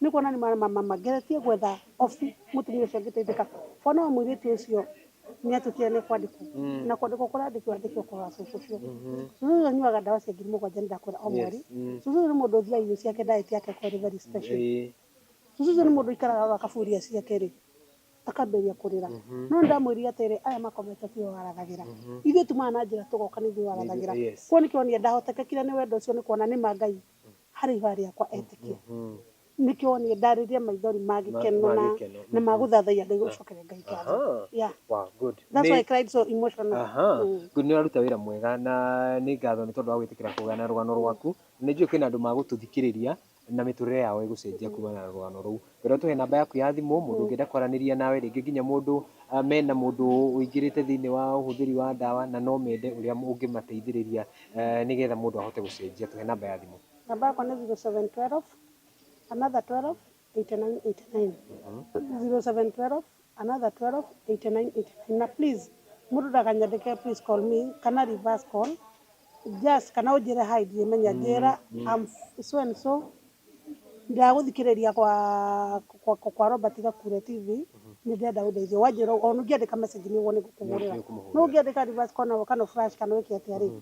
S1: nĩ kuona nĩ ma ma ma ma ngeretie gwetha obi mũtumia ũcio angĩteithĩka. Bwana wa mũirĩtu ũcio nĩ atwĩtire nĩ ekwandĩkwo, na kwandĩkwo kũrandĩkwo andĩkwo kwa cũcũ ũcio. Cũcũ ũcio anyuaga ndawa cia ngiri mũgwanja nĩ ndakwĩra o mweri. Cũcũ ũcio nĩ mũndũ ũthiaga irio ciake diet yake ĩkoragwo ĩrĩ very special. Cũcũ ũcio nĩ mũndũ ũikaraga oaga akabu irio ciake rĩ. Akambĩrĩria kũrĩra. No nĩ ndamwĩrire atĩrĩ, 'Aya makomete tiwe warathagĩra. Ithuĩ tumaga na njĩra tũgoka nĩ ithuĩ warathagĩra. Kwoguo nĩkĩo wonire ndahotekekire nĩ wendo ũcio nĩ kuona nĩ ma Ngai harĩ ihooya rĩakwa etĩkia. Nĩkĩo wonire ndarĩrire maithori ma gĩkeno na ma gũthathaiya Ngai gũcokeria Ngai ngatho. Yeah. That's why I cried so emotional. Good. Nĩ ũraruta wĩra mwega na nĩ ngatho nĩ tondũ wa gwĩtĩkĩra kũgayana rũgano rwaku. Nĩ njũĩ kwĩna andũ magũtũthikĩrĩria na mĩtũrĩre yao ĩgũcenjia kumana na rũgano rũu. Ngwenda ũtũhe namba yaku ya thimũ, mũndũ ũngĩenda kwaranĩria nawe, rĩngĩ nginya mũndũ mena mũndũ ũingĩrĩte thĩiniĩ wa ũhũthĩri wa ndawa na no mende ũrĩa ũngĩmateithĩrĩria nĩgetha mũndũ ahote gũcenjia. Tũhe namba ya thimũ. Namba yakwa nĩ zero seven twelve, another twelve, eighty nine eighty nine, zero seven twelve, another 128989 na please mũndũ ndakanyandĩke please call me kana reverse call just kana ũnjĩre hi ndimenya njĩra I'm so and so ndagũthikĩrĩria kwa kwa, kwa, kwa Robert Gakure TV nĩ ndĩrenda ũndeithio wanjĩra ona ũngĩandĩka message nĩ ũguo nĩ ngũkũhũrĩra no ũngĩandĩka reverse call na kana flash kana wĩke atĩa rĩ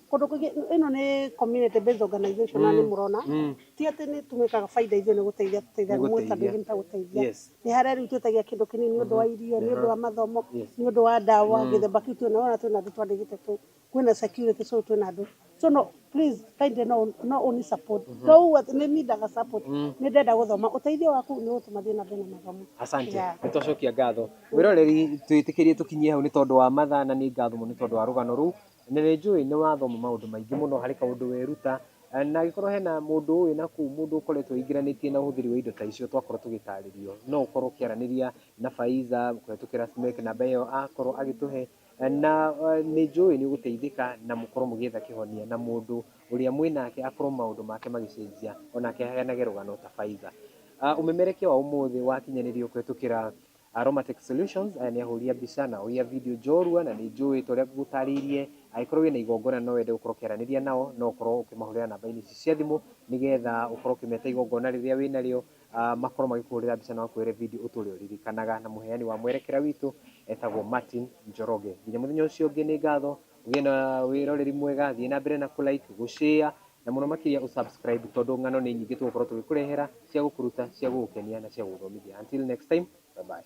S1: Kũndũ kũingĩ ĩno nĩ community based organization na nĩ mũrona ti atĩ nĩ tũmĩkaga baida ithuĩ nĩ gũteithia tũteithagia mũndũ ta ndũngĩ nĩ ta gũteithia. Nĩ harĩa rĩu twĩtagia kĩndũ kĩnini nĩ ũndũ wa irio, nĩ ũndũ wa mathomo, nĩ ũndũ wa ndawa gĩthemba kĩu twĩna wona twĩna andũ twandĩkĩte kũu. Kwĩna security so twĩna andũ. So no please kindly no ũni support. To ũguo atĩ nĩ nindaga support, nĩ ndenda gũthoma. Ũteithio waku nĩ ũgũtũma thiĩ na mbere na mathomo. Asante. Nĩ twacokia ngatho. Mwĩroreri twĩtĩkĩrie tũkinyie hau nĩ tondũ wa mathaa na nĩ ngatho mũno nĩ tondũ wa rũgano rũu. Na nĩ njũĩ nĩ wathoma maũndũ maingĩ mũno harĩ kaũndũ weruta, na angĩkorwo hena mũndũ ũĩ na kũu, mũndũ ũkoretwo aingĩranĩtie na ũhũthĩri wa indo ta icio twakorwo tũgĩtarĩrio, no ũkorwo ũkĩaranĩria na Faiza kũhĩtũkĩra Simiyu ĩyo namba ĩyo akorwo agĩtũhe, na nĩ njũĩ nĩ ũgũteithĩka na mũkorwo mũgĩetha kĩhonia na mũndũ ũrĩa mwĩ nake akorwo maũndũ make magĩcenjia onake aheanage rũgano ta Faiza. Ũmemerekia wa ũmũthĩ wakinyanĩrio kũhĩtũkĩra Aromatic Solutions, aya nĩ ahũri a mbica na ahũri a video njorua na nĩnjũĩ ta ũrĩa ngũgũtarĩirie, angĩkorwo wĩna igongona no wende gũkorwo ũkĩaranĩria nao, no ũkorwo ũkĩmahũrĩra namba-inĩ ici cia thimũ, nĩgetha ũkorwo ũkĩmeta igongona rĩrĩa wĩnarĩo, makorwo magĩkũhũrĩra mbica na makũhũrĩre video ũtũre ũririkanaga. Na mũheani wa mwerekera witũ etagwo Martin Njoroge. Nginya mũthenya ũcio ũngĩ nĩ ngatho, ũgĩe na wĩroreri mwega, thiĩ na mbere na kũ like, gũ share, Na mũno makĩria ũ subscribe tondũ ng'ano nĩ nyingĩ tũgũkorwo tũgĩkũrehera cia gũkũruta, cia gũgũkenia na cia gũgũthomithia. Until next time, bye bye.